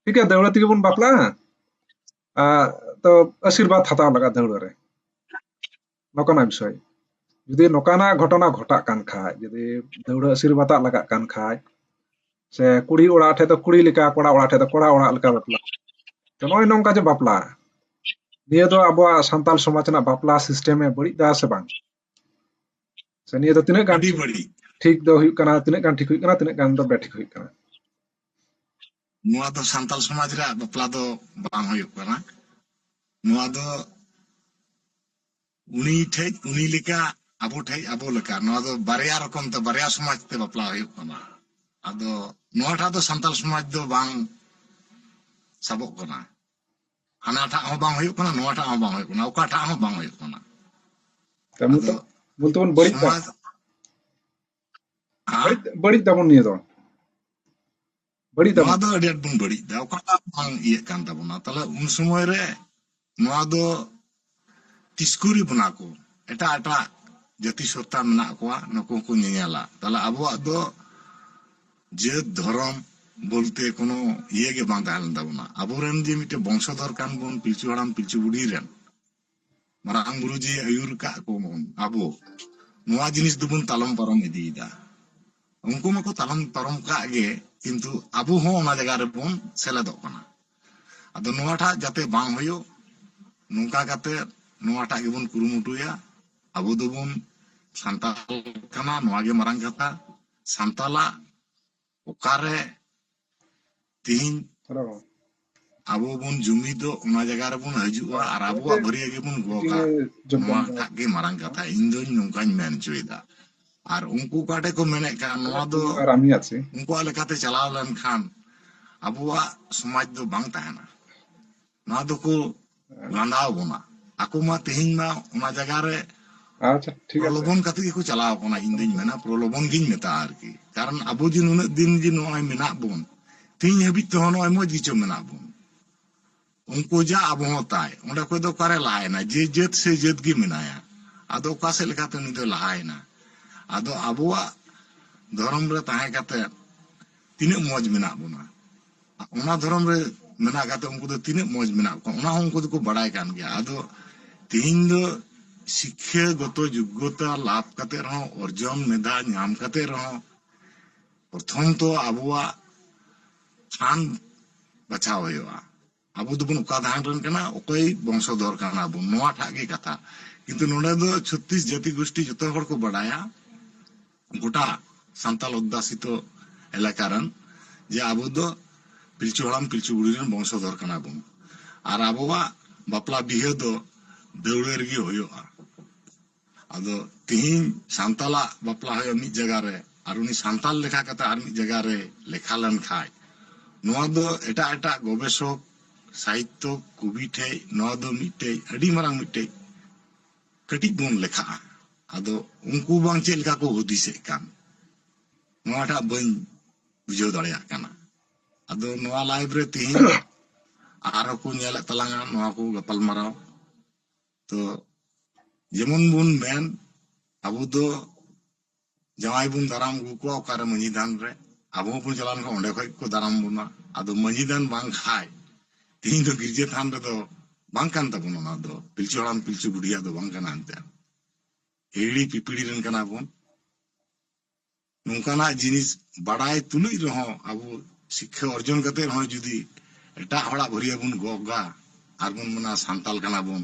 ᱴᱷᱤᱠ ᱜᱮᱭᱟ ᱫᱟᱹᱣᱲᱟᱹ ᱛᱮᱜᱮ ᱵᱚᱱ ᱵᱟᱯᱞᱟᱜᱼᱟ ᱛᱚ ᱟᱥᱤᱨᱵᱟᱫ ᱦᱟᱛᱟᱣ ᱞᱟᱜᱟᱜᱼᱟ ᱫᱟᱹᱣᱲᱟᱹ ᱨᱮ ᱱᱚᱠᱟᱱᱟᱜ ᱵᱤᱥᱚᱭ ᱡᱩᱫᱤ ᱱᱚᱠᱟᱱᱟᱜ ᱜᱷᱚᱴᱚᱱᱟ ᱜᱷᱚᱴᱟᱜ ᱠᱟᱱ ᱠᱷᱟᱡ ᱡᱩᱫᱤ ᱫᱟᱹᱣᱲᱟᱹ ᱟᱹᱥᱤᱨ ᱵᱟᱛᱟᱜ ᱞᱟᱜᱟᱜ ᱠᱟᱱ ᱠᱷᱟᱡ ᱥᱮ ᱠᱩᱲᱤ ᱚᱲᱟᱜ ᱴᱷᱮᱡ ᱫᱚ ᱠᱩᱲᱤ ᱞᱮᱠᱟ ᱠᱚᱲᱟ ᱚᱲᱟᱜ ᱴᱷᱮᱡ ᱫᱚ ᱠᱚᱲᱟ ᱚᱲᱟᱜ ᱞᱮᱠᱟ ᱵᱟᱯᱞᱟ ᱛᱚ ᱱᱚᱜᱼᱚᱭ ᱱᱚᱝᱠᱟ ᱡᱮ ᱵᱟᱯᱞᱟ ᱱᱤᱭᱟᱹ ᱫᱚ ᱟᱵᱚᱣᱟᱜ ᱥᱟᱱᱛᱟᱞ ᱥᱚᱢᱟᱡᱽ ᱨᱮᱱᱟᱜ ᱵᱟᱯᱞᱟ ᱥᱤᱥᱴᱮᱢᱮ ᱵᱟᱹᱲᱤᱡ ᱫᱟ ᱥᱮ ᱵᱟᱝ ᱥᱮ ᱱᱤᱭᱟᱹ ᱫᱚ ᱛᱤᱱᱟᱹᱜ ᱜᱟᱱ ᱴᱷᱤᱠ ᱫᱚ ᱦᱩᱭᱩᱜ ᱠᱟᱱᱟ ᱛᱤᱱᱟᱹᱜ ᱜᱟᱱ ᱴᱷᱤᱠ ᱦᱩᱭᱩᱜ ᱠᱟᱱᱟ ᱛᱤᱱᱟᱹᱜ ᱜᱟᱱ ᱫᱚ ᱵᱮᱴᱷᱤᱠ ᱦᱩᱭᱩᱜ ᱠᱟᱱᱟ ᱱᱚᱣᱟ ᱫᱚ ᱥᱟᱱᱛᱟᱞ ᱥᱚᱢᱟᱡᱽ ᱨᱮᱭᱟᱜ ᱵᱟᱯᱞᱟ ᱫᱚ ᱵᱟᱝ ᱦᱩᱭᱩᱜ ᱠᱟᱱᱟ ᱱᱚᱣᱟ ᱫᱚ ᱩᱱᱤ ᱴᱷᱮᱡ ᱩᱱᱤ ᱞᱮᱠᱟ ᱟᱵᱚ ᱴᱷᱮᱡ ᱟᱵᱚ ᱞᱮᱠᱟ ᱱᱚᱣᱟ ᱫᱚ ᱵᱟᱨᱭᱟ ᱨᱚᱠᱚᱢ ᱛᱮ ᱵᱟᱨᱭᱟ ᱥᱚᱢᱟᱡᱽ ᱛᱮ ᱵᱟᱯᱞᱟ ᱦᱩᱭᱩᱜ ᱠᱟᱱᱟ ᱟᱫᱚ ᱱᱚᱣᱟ ᱴᱷᱟ ᱫᱚ ᱥᱟᱱᱛᱟᱞ ᱥᱚᱢᱟᱡᱽ ᱫᱚ ᱵᱟᱝ ᱥᱟᱵᱚᱜ ᱠᱟᱱᱟ ᱦᱟᱱᱟ ᱴᱷᱟ ᱦᱚᱸ ᱵᱟᱝ ᱦᱩᱭᱩᱜ ᱠᱟᱱᱟ ᱱᱚᱣᱟ ᱴᱷᱟ ᱦᱚᱸ ᱵᱟᱝ ᱦᱩᱭᱩᱜ ᱠᱟᱱᱟ ᱚᱠᱟ ᱴᱷᱟ ᱦᱚᱸ ᱵᱟᱝ ᱦᱩᱭᱩᱜ ᱠᱟᱱᱟ ᱠᱟᱹᱢᱤ ᱛᱚ ᱵᱚᱞᱛᱮ ᱵᱚᱱ ᱵᱟᱹᱲᱤᱡ ᱫᱟ ᱵᱟᱹᱲᱤᱡ ᱫᱟᱵᱚᱱ ᱱᱤᱭᱟᱹ ᱫᱚ ᱵᱟᱹᱲᱤᱡ ᱫᱟᱵᱚᱱ ᱱᱚᱣᱟ ᱫᱚ ᱟᱹᱰᱤ ᱟᱸᱴ ᱵᱚᱱ ᱵᱟᱹᱲᱤᱡ ᱫᱟ ᱚᱠᱟᱴᱟᱜ ᱵᱟᱝ ᱤᱭᱟᱹᱜ ᱠᱟᱱ ᱛᱟᱵᱚᱱᱟ ᱛᱟᱦᱞᱮ ᱩᱱ ᱥᱚᱢᱚᱭ ᱨᱮ ᱱᱚᱣᱟ ᱫᱚ ᱛᱤᱥᱠᱩᱨᱤ ᱵᱚᱱᱟ ᱠᱚ ᱮᱴᱟᱜ ᱮᱴᱟᱜ ᱡᱟᱹᱛᱤ ᱥᱚᱛᱛᱟ ᱢᱮᱱᱟᱜ ᱠᱚᱣᱟ ᱱᱩᱠᱩ ᱦᱚᱸᱠᱚ ᱧᱮᱧᱮᱞᱟ ᱛᱟᱦᱞᱮ ᱟᱵᱚᱣᱟᱜ ᱫᱚ ᱡᱟᱹᱛ ᱫᱷᱚᱨᱚᱢ ᱵᱚᱞᱛᱮ ᱠᱳᱱᱳ ᱤᱭᱟᱹ ᱜᱮ ᱵᱟᱝ ᱛᱟᱦᱮᱸ ᱞᱮᱱ ᱛᱟᱵᱚᱱᱟ ᱟᱵᱚᱨᱮᱱ ᱡᱮ ᱢᱤᱫᱴᱮᱱ ᱵᱚᱝᱥᱚᱫᱷᱚᱨ ᱠᱟᱱ ᱵᱚᱱ ᱯᱤᱞᱪᱩ ᱦᱟᱲᱟᱢ ᱯᱤᱞᱪᱩ ᱵᱩᱰᱷᱤ ᱨᱮᱱ ᱢᱟᱨᱟᱝ ᱵᱩᱨᱩ ᱡᱮ ᱟᱹᱭᱩᱨ ᱠᱟᱜ ᱠᱚ ᱵᱚᱱ ᱟᱵᱚ ᱱᱚᱣᱟ ᱡᱤᱱᱤᱥ ᱫᱚᱵᱚᱱ ᱛᱟᱞᱚᱢ ᱯᱟᱨᱚᱢ ᱤᱫᱤᱭᱮᱫᱟ ᱩᱱᱠᱩ ᱢᱟᱠᱚ ᱛᱟᱞᱚᱢ ᱯᱟᱨᱚᱢ ᱠᱟᱜ ᱜᱮ ᱠᱤᱱᱛᱩ ᱟᱵᱚ ᱦᱚᱸ ᱚᱱᱟ ᱡᱟᱭᱜᱟ ᱨᱮᱵᱚᱱ ᱥᱮᱞᱮᱫᱚᱜ ᱠᱟᱱᱟ ᱟᱫᱚ ᱱᱚᱣᱟᱴᱟᱜ ᱡᱟᱛᱮ ᱵᱟᱝ ᱦᱩᱭᱩᱜ ᱱᱚᱝᱠᱟ ᱠᱟᱛᱮ ᱱᱚᱣᱟᱴᱟᱜ ᱜᱮᱵᱚᱱ ᱠᱩᱨᱩᱢᱩᱴᱩᱭᱟ ᱟᱵᱚ ᱫᱚᱵᱚᱱ ᱥᱟᱱᱛᱟᱲ ᱠᱟᱱᱟ ᱱᱚᱣᱟ ᱜᱮ ᱢᱟᱨᱟᱝ ᱠᱟᱛᱷᱟ ᱥᱟᱱᱛᱟᱲᱟᱜ ᱚᱠᱟᱨᱮ ᱛᱤᱦᱤᱧ ᱟᱵᱚ ᱵᱚᱱ ᱡᱩᱢᱤᱫᱚᱜ ᱚᱱᱟ ᱡᱟᱭᱜᱟ ᱨᱮᱵᱚᱱ ᱦᱤᱡᱩᱜᱼᱟ ᱟᱨ ᱟᱵᱚᱣᱟᱜ ᱵᱷᱟᱹᱨᱭᱟᱹ ᱜᱮᱵᱚᱱ ᱜᱚᱜᱟ ᱱᱚᱣᱟᱴᱟᱜ ᱜᱮ ᱢᱟᱨᱟᱝ ᱠᱟᱛᱷᱟ ᱤᱧ ᱫᱚᱧ ᱱᱚᱝᱠᱟᱧ ᱢᱮᱱ ᱦᱚᱪᱚᱭᱮᱫᱟ ᱟᱨ ᱩᱱᱠᱩ ᱚᱠᱟᱴᱷᱮᱡ ᱠᱚ ᱢᱮᱱᱮᱫ ᱠᱟᱱ ᱱᱚᱣᱟ ᱫᱚ ᱩᱱᱠᱩᱣᱟᱜ ᱞᱮᱠᱟᱛᱮ ᱪᱟᱞᱟᱣ ᱞᱮᱱᱠᱷᱟᱱ ᱟᱵᱚᱣᱟᱜ ᱥᱚᱢᱟᱡᱽ ᱫᱚ ᱵᱟᱝ ᱛᱟᱦᱮᱱᱟ ᱱᱚᱣᱟ ᱫᱚᱠᱚ ᱞᱟᱸᱫᱟᱣ ᱵᱚᱱᱟ ᱟᱠᱚ ᱢᱟ ᱛᱮᱦᱮᱧ ᱢᱟ ᱚᱱᱟ ᱡᱟᱭᱜᱟ ᱨᱮ ᱟᱪᱪᱷᱟ ᱴᱷᱤᱠ ᱟᱪᱷᱮ ᱯᱨᱚᱞᱚᱵᱚᱱ ᱠᱟᱛᱮ ᱜᱮᱠᱚ ᱪᱟᱞᱟᱣ ᱠᱟᱱᱟ ᱤᱧ ᱫᱩᱧ ᱢᱮᱱᱟ ᱯᱨᱚᱞᱚᱵᱚᱱ ᱜᱤᱧ ᱢᱮᱛᱟᱜᱼᱟ ᱟᱨᱠᱤ ᱠᱟᱨᱚᱱ ᱟᱵᱚ ᱡᱮ ᱱᱩᱱᱟᱹᱜ ᱫᱤᱱ ᱡᱮ ᱱᱚᱜᱼᱚᱭ ᱢᱮᱱᱟᱜ ᱵᱚᱱ ᱛᱮᱦᱮᱧ ᱦᱟᱹᱵᱤᱡ ᱛᱮᱦᱚᱸ ᱱᱚᱜᱼᱚᱭ ᱢᱚᱡᱽ ᱜᱮᱪᱚ ᱢᱮᱱᱟᱜ ᱵᱚᱱ ᱩᱱᱠᱩ ᱡᱟ ᱟᱵᱚ ᱦᱚᱸ ᱛᱟᱭ ᱚᱸᱰᱮ ᱠᱷᱚᱡ ᱫᱚ ᱚᱠᱟᱨᱮ ᱞᱟᱦᱟᱭᱮᱱᱟ ᱡᱮ ᱡᱟᱹᱛ ᱥᱮ ᱡᱟᱹᱛ ᱜᱮ ᱢᱮᱱᱟᱭᱟ ᱟᱫᱚ ᱚᱠᱟ ᱥᱮᱫ ᱞᱮᱠᱟᱛᱮ ᱩᱱᱤ ᱫᱚ ᱞᱟᱦᱟᱭᱮᱱᱟ ᱟᱫᱚ ᱟᱵᱚᱣᱟᱜ ᱫᱷᱚᱨᱚᱢ ᱨᱮ ᱛᱟᱦᱮᱸ ᱠᱟᱛᱮ ᱛᱤᱱᱟᱹᱜ ᱢᱚᱡᱽ ᱢᱮᱱᱟᱜ ᱵᱚᱱᱟ ᱚᱱᱟ ᱫᱷᱚᱨᱚᱢ ᱨᱮ ᱢᱮᱱᱟᱜ ᱠᱟᱛᱮ ᱩᱱᱠᱩ ᱫᱚ ᱛᱤᱱᱟᱹᱜ ᱢᱚᱸᱡᱽ ᱢᱮᱱᱟᱜ ᱠᱚᱣᱟ ᱚᱱᱟ ᱦᱚᱸ ᱩᱱᱠᱩ ᱫᱚᱠᱚ ᱵᱟᱲᱟᱭ ᱠᱟᱱ ᱜᱮᱭᱟ ᱟᱫᱚ ᱛᱮᱦᱮᱧ ᱫᱚ ᱥᱤᱠᱠᱷᱟᱹ ᱜᱚᱛᱚ ᱡᱳᱜᱽᱜᱚᱛᱟ ᱞᱟᱵᱷ ᱠᱟᱛᱮ ᱨᱮᱦᱚᱸ ᱚᱨᱡᱚᱱ ᱢᱮᱫᱷᱟ ᱧᱟᱢ ᱠᱟᱛᱮ ᱨᱮᱦᱚᱸ ᱯᱨᱚᱛᱷᱚᱢ ᱛᱚ ᱟᱵᱚᱣᱟᱜ ᱥᱟᱱ ᱵᱟᱪᱷᱟᱣ ᱦᱩᱭᱩᱜᱼᱟ ᱟᱵᱚ ᱫᱚᱵᱚᱱ ᱚᱠᱟ ᱫᱷᱟᱨᱮ ᱨᱮᱱ ᱠᱟᱱᱟ ᱚᱠᱚᱭ ᱵᱚᱝᱥᱚᱫᱷᱚᱨ ᱠᱟᱱᱟ ᱵᱚᱱ ᱱᱚᱣᱟ ᱴᱟᱜ ᱜᱮ ᱠᱟᱛᱷᱟ ᱠᱤᱱᱛᱩ ᱱᱚᱰᱮ ᱫᱚ ᱪᱷᱚᱛᱨᱤᱥ ᱡᱟᱹᱛᱤ ᱜᱩᱥᱴᱤ ᱡᱚᱛᱚ ᱦᱚᱲ ᱠᱚ ᱵᱟᱲᱟᱭᱟ ᱜᱚᱴᱟ ᱥᱟᱱᱛᱟᱞ ᱚᱫᱫᱟᱥᱤᱛᱚ ᱮᱞᱟᱠᱟ ᱨᱮᱱ ᱡᱮ ᱟᱵᱚ ᱫᱚ ᱯᱤᱞᱪᱩ ᱦᱟᱲᱟᱢ ᱯᱤᱞᱪᱩ ᱵᱩᱲᱦᱤ ᱨᱮᱱ ᱵᱚᱝᱥᱚᱫᱷᱚᱨ ᱠᱟᱱᱟ ᱵᱚᱱ ᱟᱨ ᱟᱵᱚᱣᱟᱜ ᱵᱟᱯᱞᱟ ᱵᱤᱦᱟᱹ ᱫᱚ ᱫᱟᱹᱣᱲᱟᱹ ᱨᱮᱜᱮ ᱦᱩᱭᱩᱜᱼᱟ ᱟᱫᱚ ᱛᱤᱦᱤᱧ ᱥᱟᱱᱛᱟᱞᱟᱜ ᱵᱟᱯᱞᱟ ᱦᱩᱭᱩᱜᱼᱟ ᱢᱤᱫ ᱡᱟᱭᱜᱟ ᱨᱮ ᱟᱨ ᱩᱱᱤ ᱥᱟᱱᱛᱟᱞ ᱞᱮᱠᱷᱟ ᱠᱟᱛᱮ ᱟᱨ ᱢᱤᱫ ᱡᱟᱭᱜᱟ ᱨᱮ ᱞᱮᱠᱷᱟ ᱞᱮᱱ ᱠᱷᱟᱡ ᱱᱚᱣᱟ ᱫᱚ ᱮᱴᱟᱜ ᱮᱴᱟᱜ ᱜᱚᱵᱮᱥᱚᱠ ᱥᱟᱦᱤᱛᱛᱚ ᱠᱚᱵᱤ ᱴᱷᱮᱡ ᱱᱚᱣᱟ ᱫᱚ ᱢᱤᱫᱴᱮᱡ ᱟᱹᱰᱤ ᱢᱟᱨᱟᱝ ᱢᱤᱫᱴᱮᱡ ᱠᱟᱹᱴᱤᱡ ᱵᱚᱱ ᱞᱮᱠᱷᱟᱜᱼᱟ ᱟᱫᱚ ᱩᱱᱠᱩ ᱵᱟᱝ ᱪᱮᱫ ᱞᱮᱠᱟ ᱠᱚ ᱦᱩᱫᱤᱥᱮᱫ ᱠᱟᱱ ᱱᱚᱣᱟᱴᱟᱜ ᱵᱟᱹᱧ ᱵᱩᱡᱷᱟᱹᱣ ᱫᱟᱲᱮᱭᱟᱜ ᱠᱟᱱᱟ ᱟᱫᱚ ᱱᱚᱣᱟ ᱞᱟᱭᱤᱵ ᱨᱮ ᱛᱤᱦᱤᱧ ᱟᱨᱦᱚᱸ ᱠᱚ ᱧᱮᱞᱮᱫ ᱛᱟᱞᱟᱝᱟ ᱱᱚᱣᱟ ᱠᱚ ᱜᱟᱯᱟᱞ ᱢᱟᱨᱟᱣ ᱛᱚ ᱡᱮᱢᱚᱱ ᱵᱚᱱ ᱢᱮᱱ ᱟᱵᱚ ᱫᱚ ᱡᱟᱶᱟᱭ ᱵᱚᱱ ᱫᱟᱨᱟᱢ ᱟᱹᱜᱩ ᱠᱚᱣᱟ ᱚᱠᱟᱨᱮ ᱢᱟᱹᱡᱷᱤ ᱛᱷᱟᱱ ᱨᱮ ᱟᱵᱚ ᱦᱚᱸᱵᱚᱱ ᱪᱟᱞᱟᱣ ᱞᱮᱱᱠᱷᱟᱱ ᱚᱸᱰᱮ ᱠᱷᱚᱱ ᱜᱮᱠᱚ ᱫᱟᱨᱟᱢ ᱵᱚᱱᱟ ᱟᱫᱚ ᱢᱟᱹᱡᱷᱤ ᱛᱷᱟᱱ ᱵᱟᱝ ᱠᱷᱟᱱ ᱛᱮᱦᱮᱧ ᱫᱚ ᱜᱤᱨᱡᱟᱹ ᱛᱷᱟᱱ ᱨᱮᱫᱚ ᱵᱟᱝ ᱠᱟᱱ ᱛᱟᱵᱚᱱᱟ ᱚᱱᱟ ᱫᱚ ᱯᱤᱞᱪᱩ ᱦᱟᱲᱟᱢ ᱯᱤᱞᱪᱩ ᱵᱩᱰᱷᱤᱭᱟᱜ ᱫᱚ ᱵᱟᱝ ᱠᱟᱱᱟ ᱮᱱᱛᱮᱫ ᱦᱤᱦᱤᱲᱤ ᱯᱤᱯᱤᱲᱤ ᱨᱮᱱ ᱠᱟᱱᱟ ᱵᱚᱱ ᱱᱚᱝᱠᱟᱱᱟᱜ ᱡᱤᱱᱤᱥ ᱵᱟᱰᱟᱭ ᱛᱩᱞᱩᱡ ᱨᱮᱦᱚᱸ ᱟᱵᱚ ᱥᱤᱠᱠᱷᱟ ᱚᱨᱡᱚᱱ ᱠᱟᱛᱮ ᱨᱮᱦᱚᱸ ᱡᱩᱫᱤ ᱮᱴᱟᱜ ᱦᱚᱲᱟᱜ ᱵᱷᱟᱹᱨᱭᱟᱹ ᱵᱚᱱ ᱜᱚᱜᱟ ᱟᱨ ᱵᱚᱱ ᱢᱮᱱᱟ ᱥᱟᱱᱛᱟᱞ ᱠᱟᱱᱟ ᱵᱚᱱ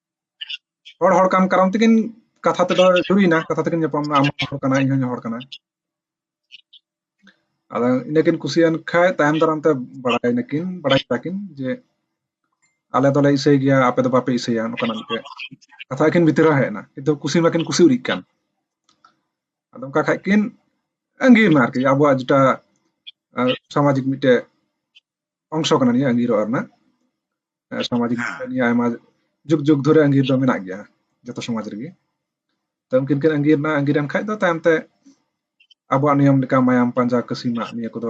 ᱦᱚᱲ ᱦᱚᱲ ᱠᱟᱱ ᱠᱟᱨᱚᱱ ᱛᱮᱠᱤᱱ ᱠᱟᱛᱷᱟ ᱛᱮᱫᱚ ᱡᱩᱨᱤᱭᱮᱱᱟ ᱠᱟᱛᱷᱟ ᱛᱮᱠᱤᱱ ᱧᱟᱯᱟᱢ ᱮᱱᱟ ᱟᱢ ᱦᱚᱲ ᱠᱟᱱᱟ ᱤᱧ ᱦᱚᱸ ᱦᱚᱲ ᱠᱟᱱᱟ ᱟᱫᱚ ᱤᱱᱟᱹᱠᱤᱱ ᱠᱩᱥᱤᱭᱮᱱ ᱠᱷᱟᱡ ᱛᱟᱭᱚᱢ ᱫᱟᱨᱟᱢ ᱛᱮ ᱵᱟᱲᱟᱭ ᱱᱟᱠᱤᱱ ᱵᱟᱲᱟᱭ ᱠᱮᱫᱟ ᱠᱤᱱ ᱡᱮ ᱟᱞᱮ ᱫᱚᱞᱮ ᱤᱥᱟᱹᱭ ᱜᱮᱭᱟ ᱟᱯᱮ ᱫᱚ ᱵᱟᱯᱮ ᱤᱥᱟᱹᱭᱟ ᱱᱚᱝᱠᱟᱱᱟᱜ ᱢᱤᱫᱴᱮᱡ ᱠᱟᱛᱷᱟ ᱟᱹᱠᱤᱱ ᱵᱷᱤᱛᱤᱨ ᱨᱮ ᱦᱮᱡ ᱮᱱᱟ ᱠᱤᱱᱛᱩ ᱠᱩᱥᱤ ᱢᱟᱠᱤᱱ ᱠᱩᱥᱤ ᱩᱨᱤᱡ ᱠᱟᱱ ᱟᱫᱚ ᱚᱱᱠᱟ ᱠᱷᱟᱡ ᱠᱤᱱ ᱟᱸᱜᱤᱨ ᱮᱱᱟ ᱟᱨᱠᱤ ᱟᱵᱚᱣᱟᱜ ᱡᱮᱴᱟ ᱥᱟᱢᱟᱡᱤᱠ ᱢᱤᱫᱴᱮᱡ ᱚᱝᱥ ᱠᱟᱱᱟ ᱱᱤᱭᱟᱹ ᱟᱸᱜᱤᱨ ᱚᱲᱟᱜ ᱨᱮᱱᱟᱜ ᱥᱟᱢᱟᱡᱤᱠ ᱱᱤᱭᱟᱹ ᱟᱭᱢᱟ ᱡᱩᱜᱽ ᱡᱩᱜᱽ ᱫᱷᱚᱨᱮ ᱟᱸᱜᱤᱨ ᱫᱚ ᱢᱮᱱᱟᱜ ᱜᱮᱭᱟ ᱡᱚᱛᱚ ᱥᱚᱢᱟᱡᱽ ᱨᱮᱜᱮ ᱛᱚ ᱩᱱᱠᱤᱱ ᱠᱤᱱ ᱟᱸᱜᱤᱨ ᱱᱟ ᱟᱸᱜᱤᱨ ᱮᱱ ᱠᱷᱟᱡ ᱫᱚ ᱛᱟᱭᱚᱢ ᱛᱮ ᱟᱵᱚᱣᱟᱜ ᱱᱤᱭᱚᱢ ᱞᱮᱠᱟ ᱢᱟᱭᱟᱢ ᱯᱟᱸᱡᱟ ᱠᱟᱹᱥᱤᱢᱟᱜ ᱱᱤᱭᱟᱹ ᱠᱚᱫᱚ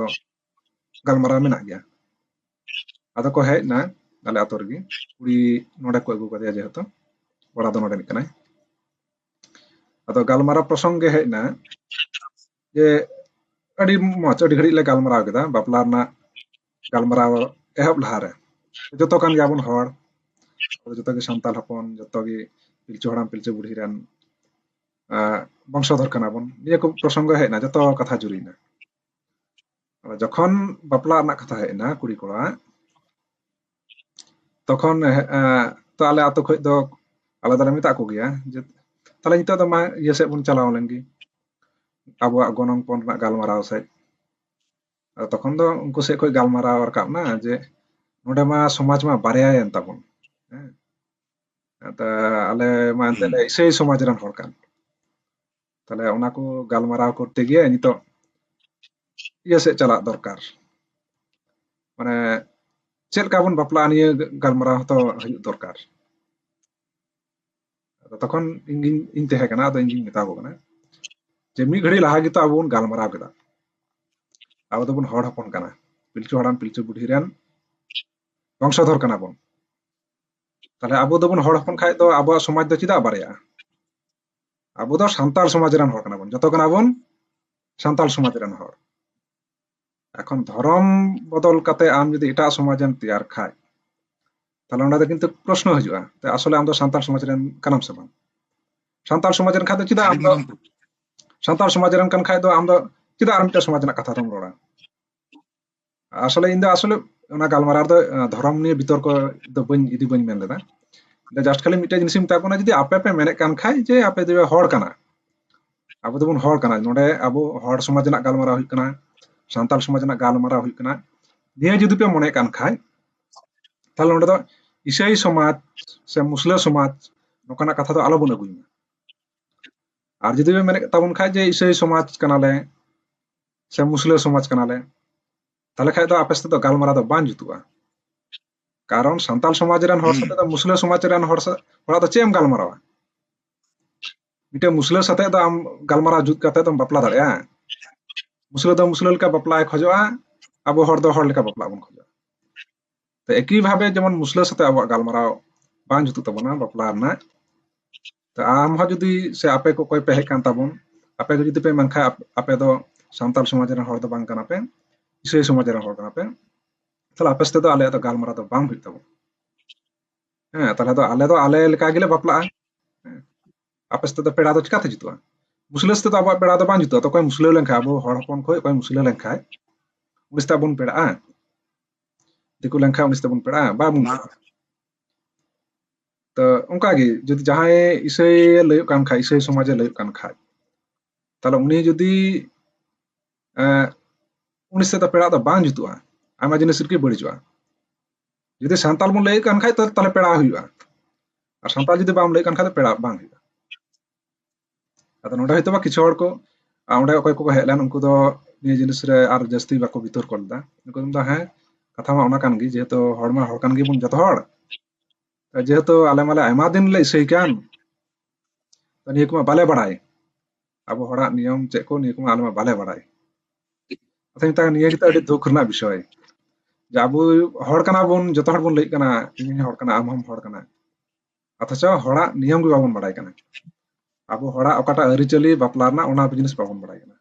ᱜᱟᱞᱢᱟᱨᱟᱣ ᱢᱮᱱᱟᱜ ᱜᱮᱭᱟ ᱟᱫᱚ ᱠᱚ ᱦᱮᱡ ᱱᱟ ᱟᱞᱮ ᱟᱛᱳ ᱨᱮᱜᱮ ᱠᱩᱲᱤ ᱱᱚᱰᱮ ᱠᱚ ᱟᱹᱜᱩ ᱠᱟᱫᱮᱭᱟ ᱡᱮᱦᱮᱛᱩ ᱠᱚᱲᱟ ᱫᱚ ᱱᱚᱰᱮᱱᱤᱡ ᱠᱟᱱᱟᱭ ᱟᱫᱚ ᱜᱟᱞᱢᱟᱨᱟᱣ ᱯᱨᱚᱥᱚᱝᱜᱮ ᱦᱮᱡ ᱱᱟ ᱡᱮ ᱟᱹᱰᱤ ᱢᱚᱡᱽ ᱟᱹᱰᱤ ᱜᱷᱟᱹᱲᱤᱡ ᱞᱮ ᱜᱟᱞᱢᱟᱨᱟᱣ ᱠᱮᱫᱟ ᱵᱟᱯᱞᱟ ᱨᱮᱱᱟᱜ ᱜᱟᱞᱢᱟᱨᱟᱣ ᱮᱦᱚᱵ ᱞᱟᱦᱟᱨᱮ ᱡᱚᱛᱚ ᱠᱟᱱ ᱜᱮᱭᱟᱵᱚᱱ ᱦᱚᱲ ᱡᱚᱛᱚ ᱜᱮ ᱥᱟᱱᱛᱟᱲ ᱦᱚᱯᱚᱱ ᱡᱚᱛᱚ ᱜᱮ ᱯᱤᱞᱪᱩ ᱦᱟᱲᱟᱢ ᱯᱤᱞᱪᱩ ᱵᱩᱲᱦᱤ ᱨᱮᱱ ᱵᱚᱝᱥᱚᱫᱷᱚᱨ ᱠᱟᱱᱟ ᱵᱚᱱ ᱱᱤᱭᱟᱹ ᱠᱚ ᱯᱨᱚᱥᱚᱝᱜᱚ ᱦᱮᱡ ᱮᱱᱟ ᱡᱚᱛᱚ ᱠᱟᱛᱷᱟ ᱡᱩᱨᱤᱭᱮᱱᱟ ᱡᱚᱠᱷᱚᱱ ᱵᱟᱯᱞᱟ ᱨᱮᱱᱟᱜ ᱠᱟᱛᱷᱟ ᱦᱮᱡ ᱮᱱᱟ ᱠᱩᱲᱤ ᱠᱚᱲᱟ ᱛᱚᱠᱷᱚᱱ ᱛᱚ ᱟᱞᱮ ᱟᱛᱳ ᱠᱷᱚᱡ ᱫᱚ ᱟᱞᱮ ᱫᱚᱞᱮ ᱢᱮᱛᱟ ᱠᱚ ᱜᱮᱭᱟ ᱡᱮ ᱛᱟᱦᱞᱮ ᱱᱤᱛᱚᱜ ᱫᱚ ᱢᱟ ᱤᱭᱟᱹ ᱥᱮᱫ ᱵᱚᱱ ᱪᱟᱞᱟᱣ ᱞᱮᱱ ᱜᱮ ᱟᱵᱚᱣᱟᱜ ᱜᱚᱱᱚᱝ ᱯᱚᱱ ᱨᱮᱱᱟᱜ ᱜᱟᱞᱢᱟᱨᱟᱣ ᱥᱮᱫ ᱟᱫᱚ ᱛᱚᱠᱷᱚᱱ ᱫᱚ ᱩᱱᱠᱩ ᱥᱮᱫ ᱠᱷᱚᱡ ᱜᱟᱞᱢᱟᱨᱟᱣ ᱨᱟᱠᱟᱵ ᱮᱱᱟ ᱡᱮ ᱱᱚᱰᱮ ᱢᱟ ᱥᱚᱢᱟᱡᱽ ᱢᱟ ᱵᱟᱨᱭᱟᱭᱮᱱ ᱛᱟᱵᱚᱱ ᱦᱮᱸ ᱟᱫᱚ ᱟᱞᱮ ᱢᱟ ᱮᱱᱛᱮᱫ ᱤᱥᱟᱹᱭ ᱥᱚᱢᱟᱡᱽ ᱨᱮᱱ ᱦᱚᱲ ᱠᱟᱱ ᱛᱟᱦᱚᱞᱮ ᱚᱱᱟ ᱠᱚ ᱜᱟᱞᱢᱟᱨᱟᱣ ᱠᱚᱨᱛᱮ ᱜᱤᱭᱮ ᱱᱤᱛᱚᱜ ᱤᱭᱟᱹ ᱥᱮᱫ ᱪᱟᱞᱟᱜ ᱫᱚᱨᱠᱟᱨ ᱢᱟᱱᱮ ᱪᱮᱫ ᱞᱮᱠᱟ ᱵᱚᱱ ᱵᱟᱯᱞᱟᱜᱼᱟ ᱱᱤᱭᱟᱹ ᱜᱟᱞᱢᱟᱨᱟᱣ ᱦᱚᱸᱛᱚ ᱦᱩᱭᱩᱜ ᱫᱚᱨᱠᱟᱨ ᱟᱫᱚ ᱛᱚᱠᱷᱚᱱ ᱤᱧ ᱤᱧ ᱛᱟᱦᱮᱸ ᱠᱟᱱᱟ ᱟᱫᱚ ᱤᱧᱤᱧ ᱢᱮᱛᱟ ᱠᱚ ᱠᱟᱱᱟ ᱡᱮ ᱢᱤᱫ ᱜᱷᱟᱹᱲᱤ ᱞᱟᱦᱟ ᱜᱮᱛᱚ ᱟᱵᱚ ᱵᱚᱱ ᱜᱟᱞᱢᱟᱨᱟᱣ ᱠᱮᱫᱟ ᱟᱵᱚ ᱫᱚᱵᱚᱱ ᱦᱚᱲ ᱦᱚᱯᱚᱱ ᱠᱟᱱᱟ ᱯᱤᱞᱪᱩ ᱦᱟᱲᱟᱢ ᱯᱤᱞᱪᱩ ᱵᱩᱰᱷᱤ ᱨᱮᱱ ᱵᱚᱝᱥᱚᱫᱷᱚᱨ ᱠᱟᱱᱟ ᱵᱚᱱ ᱛᱟᱦᱚᱞᱮ ᱟᱵᱚ ᱫᱚᱵᱚᱱ ᱦᱚᱲ ᱦᱚᱯᱚᱱ ᱠᱷᱟᱡ ᱫᱚ ᱟᱵᱚᱣᱟᱜ ᱥᱚᱢᱟᱡᱽ ᱫᱚ ᱪᱮᱫᱟᱜ ᱵᱟᱨᱭᱟᱜᱼᱟ ᱟᱵᱚ ᱫᱚ ᱥᱟᱱᱛᱟᱲ ᱥᱚᱢᱟᱡᱽ ᱨᱮᱱ ᱦᱚᱲ ᱠᱟᱱᱟ ᱵᱚᱱ ᱡᱚᱛᱚ ᱠᱟᱱᱟ ᱵᱚᱱ ᱥᱟᱱᱛᱟᱲ ᱥᱚᱢᱟᱡᱽ ᱨᱮᱱ ᱦᱚᱲ ᱮᱠᱷᱚᱱ ᱫᱷᱚᱨᱚᱢ ᱵᱚᱫᱚᱞ ᱠᱟᱛᱮ ᱟᱢ ᱡᱩᱫᱤ ᱮᱴᱟᱜ ᱥᱚᱢᱟᱡᱽ ᱮᱢ ᱛᱮᱭᱟᱨ ᱠᱷᱟᱡ ᱛᱟᱦᱞᱮ ᱚᱸᱰᱮ ᱫᱚ ᱠᱤᱱᱛᱩ ᱯᱨᱚᱥᱱᱚ ᱦᱤᱡᱩᱜᱼᱟ ᱛᱮ ᱟᱥᱚᱞᱮ ᱟᱢ ᱫᱚ ᱥᱟᱱᱛᱟᱲ ᱥᱚᱢᱟᱡᱽ ᱨᱮᱱ ᱠᱟᱱᱟᱢ ᱥᱮ ᱵᱟᱝ ᱥᱟᱱᱛᱟᱲ ᱥᱚᱢᱟᱡᱽ ᱨᱮᱱ ᱠᱷᱟᱡ ᱫᱚ ᱪᱮᱫᱟᱜ ᱟᱢ ᱫᱚ ᱥᱟᱱᱛᱟᱲ ᱥᱚᱢᱟᱡᱽ ᱨᱮᱱ ᱠᱟᱱ ᱠᱷᱟᱡ ᱫᱚ ᱟᱢ ᱫᱚ ᱪᱮᱫᱟᱜ ᱟᱨ ᱢᱤᱫᱴᱟᱝ ᱥᱚᱢᱟᱡᱽ ᱨᱮᱱᱟᱜ ᱠᱟᱛᱷᱟ ᱫᱚᱢ ᱨᱚᱲᱟ ᱟᱥᱚᱞᱮ ᱤᱧ ᱫᱚ ᱟᱥᱚᱞᱮ ᱚᱱᱟ ᱜᱟᱞᱢᱟᱨᱟᱣ ᱫᱚ ᱫᱷᱚᱨᱚᱢ ᱱᱤᱭᱮ ᱵᱤᱛᱚᱨᱠᱚ ᱫᱚ ᱵᱟᱹᱧ ᱤᱫᱤ ᱵᱟᱹᱧ ᱢᱮᱱ ᱞᱮᱫᱟ ᱫᱚ ᱡᱟᱥᱴ ᱠᱷᱟᱹᱞᱤ ᱢᱤᱫᱴᱮᱱ ᱡᱤᱱᱤᱥᱤᱧ ᱢᱮᱛᱟ ᱵᱚᱱᱟ ᱡᱩᱫᱤ ᱟᱯᱮ ᱯᱮ ᱢᱮᱱᱮᱫ ᱠᱟᱱ ᱠᱷᱟᱡ ᱡᱮ ᱟᱯᱮ ᱫᱚ ᱦᱚᱲ ᱠᱟᱱᱟ ᱟᱵᱚ ᱫᱚᱵᱚᱱ ᱦᱚᱲ ᱠᱟᱱᱟ ᱱᱚᱰᱮ ᱟᱵᱚ ᱦᱚᱲ ᱥᱚᱢᱟᱡᱽ ᱨᱮᱱᱟᱜ ᱜᱟᱞᱢᱟᱨᱟᱣ ᱦᱩᱭᱩᱜ ᱠᱟᱱᱟ ᱥᱟᱱᱛᱟᱲ ᱥᱚᱢᱟᱡᱽ ᱨᱮᱱᱟᱜ ᱜᱟᱞᱢᱟᱨᱟᱣ ᱦᱩᱭᱩᱜ ᱠᱟᱱᱟ ᱱᱤᱭᱟᱹ ᱡᱩᱫᱤ ᱯᱮ ᱢᱚᱱᱮ ᱠᱟᱱ ᱠᱷᱟᱡ ᱛᱟᱦᱞᱮ ᱱᱚᱰᱮ ᱫᱚ ᱤᱥᱟᱹᱭ ᱥᱚᱢᱟᱡᱽ ᱥᱮ ᱢᱩᱥᱞᱟᱹ ᱥᱚᱢᱟᱡᱽ ᱱᱚᱝᱠᱟᱱᱟᱜ ᱠᱟᱛᱷᱟ ᱫᱚ ᱟᱞᱚᱵᱚᱱ ᱟᱹᱜᱩᱭ ᱢᱟ ᱟᱨ ᱡᱩᱫᱤ ᱯᱮ ᱢᱮᱱᱮᱫ ᱛᱟᱵᱚᱱ ᱠᱷᱟᱡ ᱡᱮ ᱤᱥᱟᱹᱭ ᱥᱚᱢᱟᱡᱽ ᱠᱟᱱᱟᱞᱮ ᱥᱮ ᱢᱩᱥᱞᱟᱹ ᱥᱚᱢᱟᱡᱽ ᱠᱟᱱᱟᱞᱮ ᱛᱟᱦᱞᱮ ᱠᱷᱟᱡ ᱫᱚ ᱟᱯᱮ ᱥᱟᱛᱮ ᱫᱚ ᱜᱟᱞᱢᱟᱨᱟᱣ ᱫᱚ ᱵᱟᱝ ᱡᱩᱛᱩᱜᱼᱟ ᱠᱟᱨᱚᱱ ᱥᱟᱱᱛᱟᱲ ᱥᱚᱢᱟᱡᱽ ᱨᱮᱱ ᱦᱚᱲ ᱥᱟᱛᱮ ᱫᱚ ᱢᱩᱥᱞᱟᱹ ᱥᱚᱢᱟᱡᱽ ᱨᱮᱱ ᱦᱚᱲ ᱦᱚᱲᱟᱜ ᱫᱚ ᱪᱮᱫ ᱮᱢ ᱜᱟᱞᱢᱟᱨᱟᱣᱟ ᱢᱤᱫᱴᱮᱱ ᱢᱩᱥᱞᱟᱹ ᱥᱟᱛᱮ ᱫᱚ ᱟᱢ ᱜᱟᱞᱢᱟᱨᱟᱣ ᱡᱩᱛ ᱠᱟᱛᱮ ᱫᱚᱢ ᱵᱟᱯᱞᱟ ᱫᱟᱲᱮᱭᱟᱜᱼᱟ ᱢᱩᱥᱞᱟᱹ ᱫᱚ ᱢᱩᱥᱞᱟᱹ ᱞᱮᱠᱟ ᱵᱟᱯᱞᱟᱭ ᱠᱷᱚᱡᱚᱜᱼᱟ ᱟᱵᱚ ᱦᱚᱲ ᱫᱚ ᱦᱚᱲ ᱞᱮᱠᱟ ᱵᱟᱯᱞᱟ ᱵᱚᱱ ᱠᱷᱚᱡᱚᱜᱼᱟ ᱛᱚ ᱮᱠᱤ ᱵᱷᱟᱵᱮ ᱡᱮᱢᱚᱱ ᱢᱩᱥᱞᱟᱹ ᱥᱟᱛᱮ ᱟᱵᱚᱣᱟᱜ ᱜᱟᱞᱢᱟᱨᱟᱣ ᱵᱟᱝ ᱡᱩᱛᱩᱜ ᱛᱟᱵᱚᱱᱟ ᱵᱟᱯᱞᱟ ᱨᱮᱱᱟᱜ ᱛᱚ ᱟᱢ ᱦᱚᱸ ᱡᱩᱫᱤ ᱥᱮ ᱟᱯᱮ ᱠᱚ ᱚᱠᱚᱭ ᱯᱮ ᱦᱮᱡ ᱠᱟᱱ ᱛᱟᱵᱚᱱ ᱟᱯᱮ ᱠᱚ ᱡᱩᱫᱤ ᱯᱮ ᱢᱮᱱᱠᱷᱟᱱ ᱟᱯᱮ ᱫᱚ ᱥᱟᱱᱛᱟᱲ ᱥᱚᱢᱟᱡᱽ ᱨᱮᱱ ᱦᱚᱲ ᱫᱚ ᱵᱟᱝ ᱠᱟᱱᱟ ᱯᱮ ᱤᱥᱟᱹᱭ ᱥᱚᱢᱟᱡᱽ ᱨᱮᱱ ᱦᱚᱲ ᱠᱟᱱᱟ ᱯᱮ ᱛᱟᱦᱞᱮ ᱟᱯᱮ ᱥᱟᱛᱮ ᱫᱚ ᱟᱞᱮᱭᱟᱜ ᱫᱚ ᱜᱟᱞᱢᱟᱨᱟᱣ ᱫᱚ ᱵᱟᱝ ᱦᱩᱭᱩᱜ ᱛᱟᱵᱚᱱᱟ ᱦᱮᱸ ᱛᱟᱦᱞᱮ ᱫᱚ ᱟᱞᱮ ᱫᱚ ᱟᱞᱮ ᱞᱮᱠᱟ ᱜᱮᱞᱮ ᱵᱟᱯᱞᱟᱜᱼᱟ ᱟᱯᱮ ᱥᱟᱛᱮ ᱫᱚ ᱯᱮᱲᱟ ᱫᱚ ᱪᱤᱠᱟᱛᱮ ᱡᱩᱛᱩᱜᱼᱟ ᱢᱩᱥᱞᱟᱹ ᱥᱟᱛᱮ ᱫᱚ ᱟᱵᱚᱣᱟᱜ ᱯᱮᱲᱟ ᱫᱚ ᱵᱟᱝ ᱡᱩᱛᱩᱜᱼᱟ ᱛᱚ ᱚᱠᱚᱭ ᱢᱩᱥᱞᱟᱹ ᱞᱮᱱᱠᱷᱟᱱ ᱟᱵᱚ ᱦᱚᱲ ᱦᱚᱯᱚᱱ ᱠᱷᱚᱱ ᱚᱠᱚᱭ ᱢᱩᱥᱞᱟᱹ ᱞᱮᱱᱠᱷᱟᱱ ᱩᱱᱤ ᱥᱟᱛᱮ ᱵᱚᱱ ᱯᱮᱲᱟᱜᱼᱟ ᱫᱤᱠᱩ ᱞᱮᱱᱠᱷᱟᱱ ᱩᱱᱤ ᱥᱟᱛᱮ ᱵᱚᱱ ᱯᱮᱲᱟᱜᱼᱟ ᱵᱟᱵᱚᱱ ᱛᱚ ᱚᱱᱠᱟᱜᱮ ᱡᱩᱫᱤ ᱡᱟᱦᱟᱸᱭ ᱤᱥᱟᱹᱭ ᱞᱟᱹᱭᱚᱜ ᱠᱟᱱ ᱠᱷᱟᱡ ᱤᱥᱟᱹᱭ ᱥᱚᱢᱟᱡᱮ ᱞᱟᱹᱭᱚᱜ ᱠᱟᱱ ᱠᱷᱟᱡ ᱛᱟᱦᱞᱮ ᱩᱱᱤ ᱡᱩᱫᱤ ᱩᱱᱤ ᱥᱟᱛᱮ ᱯᱮᱲᱟᱜ ᱫᱚ ᱵᱟᱝ ᱡᱩᱛᱩᱜᱼᱟ ᱟᱭᱢᱟ ᱡᱤᱱᱤᱥ ᱨᱮᱜᱮ ᱵᱟᱹᱲᱤᱡᱚᱜᱼᱟ ᱡᱩᱫᱤ ᱥᱟᱱᱛᱟᱲ ᱵᱚᱱ ᱞᱟᱹᱭᱮᱫ ᱠᱟᱱ ᱠᱷᱟᱡ ᱛᱟᱦᱞᱮ ᱯᱮᱲᱟ ᱦᱩᱭᱩᱜᱼᱟ ᱟᱨ ᱥᱟᱱᱛᱟᱲ ᱡᱩᱫᱤ ᱵᱟᱢ ᱞᱟᱹᱭᱮᱫ ᱠᱟᱱ ᱠᱷᱟᱡ ᱯᱮᱲᱟ ᱵᱟᱝ ᱦᱩᱭᱩᱜᱼᱟ ᱟᱫᱚ ᱱᱚᱰᱮ ᱦᱚᱭᱛᱳ ᱵᱟ ᱠᱤᱪᱷᱩ ᱦᱚᱲ ᱠᱚ ᱚᱸᱰᱮ ᱚᱠᱚᱭ ᱠᱚᱠᱚ ᱦᱮᱡ ᱞᱮᱱ ᱩᱱᱠᱩ ᱫᱚ ᱱᱤᱭᱟᱹ ᱡᱤᱱᱤᱥ ᱨᱮ ᱟᱨ ᱡᱟᱹᱥᱛᱤ ᱵᱟᱠᱚ ᱵᱤᱛᱚᱨᱠᱚ ᱞᱮᱫᱟ ᱩᱱᱠᱩ ᱫᱚ ᱦᱮᱸ ᱠᱟᱛᱷᱟ ᱢᱟ ᱚᱱᱟ ᱠᱟᱱ ᱜᱮ ᱡᱮᱦᱮᱛᱩ ᱦᱚᱲ ᱢᱟ ᱦᱚᱲ ᱠᱟᱱ ᱜᱮᱵᱚᱱ ᱡᱚᱛᱚ ᱦᱚᱲ ᱡᱮᱦᱮᱛᱩ ᱟᱞᱮ ᱢᱟᱞᱮ ᱟᱭᱢᱟ ᱫᱤᱱ ᱞᱮ ᱤᱥᱟᱹᱭ ᱠᱟᱱ ᱛᱚ ᱱᱤᱭᱟᱹ ᱠᱚᱢᱟ ᱵᱟᱞᱮ ᱵᱟᱲᱟᱭ ᱟᱵᱚ ᱦᱚᱲᱟᱜ ᱱᱤᱭᱚᱢ ᱪᱮᱫ ᱠᱚ ᱱᱤᱭᱟᱹ ᱠᱚᱢᱟ ᱟᱞᱮ ᱢᱟ ᱵᱟᱞᱮ ᱵᱟᱲᱟᱭ ᱟᱫᱚ ᱢᱮᱛᱟᱜ ᱱᱤᱭᱟᱹ ᱜᱮᱛᱚ ᱟᱹᱰᱤ ᱫᱩᱠ ᱨᱮᱱᱟᱜ ᱵᱤᱥᱚᱭ ᱡᱮ ᱟᱵᱚ ᱦᱚᱲ ᱠᱟᱱᱟ ᱵᱚᱱ ᱡᱚᱛᱚ ᱦᱚᱲ ᱵᱚᱱ ᱞᱟᱹᱭ ᱠᱟᱱᱟ ᱤᱧ ᱦᱚᱲ ᱠᱟᱱᱟ ᱟᱢ ᱦᱚᱢ ᱦᱚᱲ ᱠᱟᱱᱟ ᱚᱛᱷᱚᱪᱚ ᱦᱚᱲᱟᱜ ᱱᱤᱭᱚᱢ ᱜᱮ ᱵᱟᱵᱚᱱ ᱵᱟᱲᱟᱭ ᱠᱟᱱᱟ ᱟᱵᱚ ᱦᱚᱲᱟᱜ ᱚᱠᱟᱴᱟᱜ ᱟᱹᱨᱤᱪᱟᱹᱞᱤ ᱵᱟᱯᱞᱟ ᱨᱮᱱᱟᱜ ᱚᱱᱟ ᱡᱤᱱᱤᱥ ᱵᱟᱵᱚᱱ ᱵᱟᱲᱟᱭ ᱠᱟᱱᱟ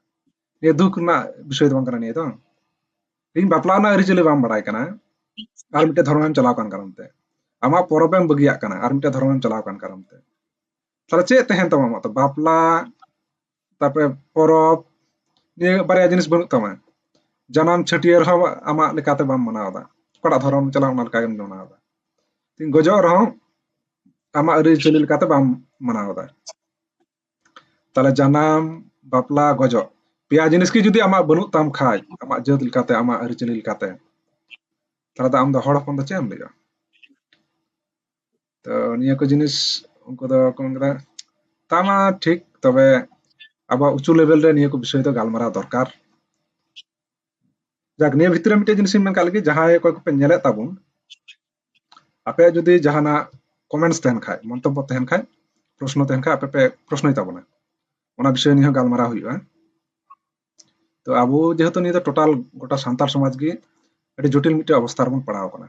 ᱱᱤᱭᱟᱹ ᱫᱩᱠ ᱨᱮᱱᱟᱜ ᱵᱤᱥᱚᱭ ᱫᱚ ᱵᱟᱝ ᱠᱟᱱᱟ ᱱᱤᱭᱟᱹ ᱫᱚ ᱤᱧ ᱵᱟᱯᱞᱟ ᱨᱮᱱᱟᱜ ᱟᱹᱨᱤᱪᱟᱹᱞᱤ ᱵᱟᱢ ᱵᱟᱲᱟᱭ ᱠᱟᱱᱟ ᱟᱨ ᱢᱤᱫᱴᱮᱱ ᱫᱷᱚᱨᱚᱢᱮᱢ ᱪᱟᱞᱟᱣ ᱠᱟᱱ ᱠᱟᱨᱚᱱ ᱛᱮ ᱟᱢᱟᱜ ᱯᱚᱨᱚᱵᱽ ᱮᱢ ᱵᱟᱹᱜᱤᱭᱟᱜ ᱠᱟᱱᱟ ᱟᱨ ᱢᱤᱫᱴᱮᱱ ᱫᱷᱚᱨᱚᱢᱮᱢ ᱪᱟᱞᱟᱣ ᱠᱟᱱ ᱠᱟᱨᱚᱱ ᱛᱮ ᱛᱟᱦᱞᱮ ᱪᱮᱫ ᱛᱟᱦᱮᱱ ᱛᱟᱢᱟ ᱟᱢᱟᱜ ᱫᱚ ᱵᱟᱯᱞᱟ ᱛᱟᱯᱚᱨᱮ ᱯᱚᱨᱚᱵᱽ ᱱᱤᱭᱟᱹ ᱵᱟᱨᱭᱟ ᱡᱤᱱᱤᱥ ᱵᱟᱹᱱᱩᱜ ᱛᱟᱢᱟ ᱡᱟᱱᱟᱢ ᱪᱷᱟᱹᱴᱭᱟᱹᱨ ᱦᱚᱸ ᱟᱢᱟᱜ ᱞᱮᱠᱟᱛᱮ ᱵᱟᱢ ᱢᱟᱱᱟᱣᱫᱟ ᱚᱠᱟᱴᱟᱜ ᱫᱷᱚᱨᱚᱢ ᱪᱟᱞᱟᱜ ᱚᱱᱟ ᱞᱮᱠᱟ ᱜᱮᱢ ᱢᱟᱱᱟᱣᱫᱟ ᱜᱚᱡᱚᱜ ᱨᱮᱦᱚᱸ ᱟᱢᱟᱜ ᱟᱹᱨᱤᱪᱟᱹᱞᱤ ᱞᱮᱠᱟᱛᱮ ᱵᱟᱢ ᱢᱟᱱᱟᱣᱫᱟ ᱛᱟᱦᱞᱮ ᱡᱟᱱᱟᱢ ᱵᱟᱯᱞᱟ ᱜᱚᱡᱚᱜ ᱯᱮᱭᱟ ᱡᱤᱱᱤᱥ ᱜᱮ ᱡᱩᱫᱤ ᱟᱢᱟᱜ ᱵᱟᱹᱱᱩᱜ ᱛᱟᱢ ᱠᱷᱟᱡ ᱟᱢᱟᱜ ᱡᱟᱹᱛ ᱞᱮᱠᱟᱛᱮ ᱟᱢᱟᱜ ᱟᱹᱨᱤᱪᱟᱹᱞᱤ ᱞᱮᱠᱟᱛᱮ ᱛᱟᱦᱞᱮ ᱫᱚ ᱟᱢ ᱫᱚ ᱦᱚᱲ ᱦᱚᱯᱚᱱ ᱫᱚ ᱪᱮᱫ ᱮᱢ ᱞᱟᱹᱭᱟ ᱛᱚ ᱱᱤᱭᱟᱹ ᱠᱚ ᱡᱤᱱᱤᱥ ᱩᱱᱠᱩ ᱫᱚ ᱠᱚ ᱢᱮᱱ ᱠᱮᱫᱟ ᱛᱟ ᱢᱟ ᱴᱷᱤᱠ ᱛᱚᱵᱮ ᱟᱵᱚᱣᱟᱜ ᱩᱪᱩ ᱞᱮᱵᱮᱞ ᱨᱮ ᱱᱤᱭᱟᱹ ᱠᱚ ᱵᱤᱥᱚᱭ ᱫᱚ ᱜᱟᱞᱢᱟᱨᱟᱣ ᱫᱚᱨᱠᱟর ᱡᱟᱠ ᱱᱤᱭᱟᱹ ᱵᱷᱤᱛᱨᱤ ᱨᱮ ᱢᱤᱫᱴᱮᱡ ᱡᱤᱱᱤᱥ ᱤᱧ ᱢᱮᱱ ᱠᱟᱜ ᱞᱮᱜᱮ ᱡᱟᱦᱟᱸᱭ ᱚᱠᱚᱭ ᱠᱚᱯᱮ ᱧᱮᱞᱮᱫ ᱛᱟᱵᱚᱱ ᱟᱯᱮ ᱡᱩᱫᱤ ᱡᱟᱦᱟᱱᱟᱜ ᱠᱚᱢᱮᱱᱴᱥ ᱛᱟᱦᱮᱱ ᱠᱷᱟᱡ ᱢᱚᱱᱛᱚᱵᱵᱚ ᱛᱟᱦᱮᱱ ᱠᱷᱟᱡ ᱯᱨᱚᱥᱱᱚ ᱛᱟᱦᱮᱱ ᱠᱷᱟᱡ ᱟᱯᱮ ᱯᱮ ᱯᱨᱚᱥᱱᱚᱭ ᱛᱟᱵᱚᱱᱟ ᱚᱱᱟ ᱵᱤᱥᱚᱭ ᱱᱤᱭᱟᱹ ᱜᱟᱞᱢᱟᱨᱟᱣ ᱦᱩᱭᱩᱜᱼᱟ ᱛᱚ ᱟᱵᱚ ᱡᱮᱦᱮᱛᱩ ᱱᱤᱭᱟᱹ ᱫᱚ ᱴᱳᱴᱟᱞ ᱜᱚᱴᱟ ᱥᱟᱱᱛᱟᱲ ᱥᱚᱢᱟᱡᱽ ᱜᱮ ᱟᱹᱰᱤ ᱡᱚᱴᱤᱞ ᱢᱤᱫᱴᱮᱡ ᱚᱵᱚᱥᱛᱟ ᱨᱮᱵᱚᱱ ᱯᱟᱲᱟᱣ ᱟᱠᱟᱱᱟ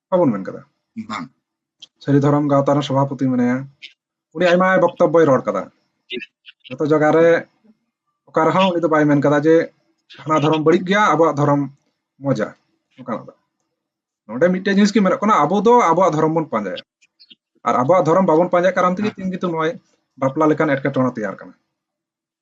ᱵᱟᱵᱚᱱ ᱢᱮᱱ ᱠᱟᱫᱟ ᱵᱟᱝ ᱥᱟᱹᱨᱤ ᱫᱷᱚᱨᱚᱢ ᱜᱟᱶᱛᱟ ᱨᱮᱱ ᱥᱚᱵᱷᱟᱯᱚᱛᱤ ᱢᱮᱱᱟᱭᱟ ᱩᱱᱤ ᱟᱭᱢᱟ ᱵᱚᱠᱛᱚᱵᱵᱚᱭ ᱨᱚᱲ ᱠᱟᱫᱟ ᱡᱚᱛᱚ ᱡᱟᱭᱜᱟ ᱨᱮ ᱚᱠᱟ ᱨᱮᱦᱚᱸ ᱩᱱᱤ ᱫᱚ ᱵᱟᱭ ᱢᱮᱱ ᱠᱟᱫᱟ ᱡᱮ ᱦᱟᱱᱟ ᱫᱷᱚᱨᱚᱢ ᱵᱟᱹᱲᱤᱡ ᱜᱮᱭᱟ ᱟᱵᱚᱣᱟᱜ ᱫᱷᱚᱨᱚᱢ ᱢᱚᱡᱟ ᱚᱱᱠᱟᱱᱟᱜ ᱫᱚ ᱱᱚᱰᱮ ᱢᱤᱫᱴᱮᱡ ᱡᱤᱱᱤᱥ ᱜᱮ ᱢᱮᱱᱚᱜ ᱠᱟᱱᱟ ᱟᱵᱚ ᱫᱚ ᱟᱵᱚᱣᱟᱜ ᱫᱷᱚᱨᱚᱢ ᱵᱚᱱ ᱯᱟᱸᱡᱟᱭᱟ ᱟᱨ ᱟᱵᱚᱣᱟᱜ ᱫᱷᱚᱨᱚᱢ ᱵᱟᱵᱚᱱ ᱯᱟᱸᱡᱟᱭ ᱠᱟᱨᱚᱱ ᱛᱮᱜᱮ ᱛᱤᱱ ᱜᱮᱛᱚ ᱱᱚᱜᱼᱚᱭ ᱵᱟᱯᱞᱟ ᱞᱮᱠᱟᱱ ᱮᱴᱠᱮᱴᱚᱬᱮ ᱛᱮᱭᱟᱨ ᱠᱟᱱᱟ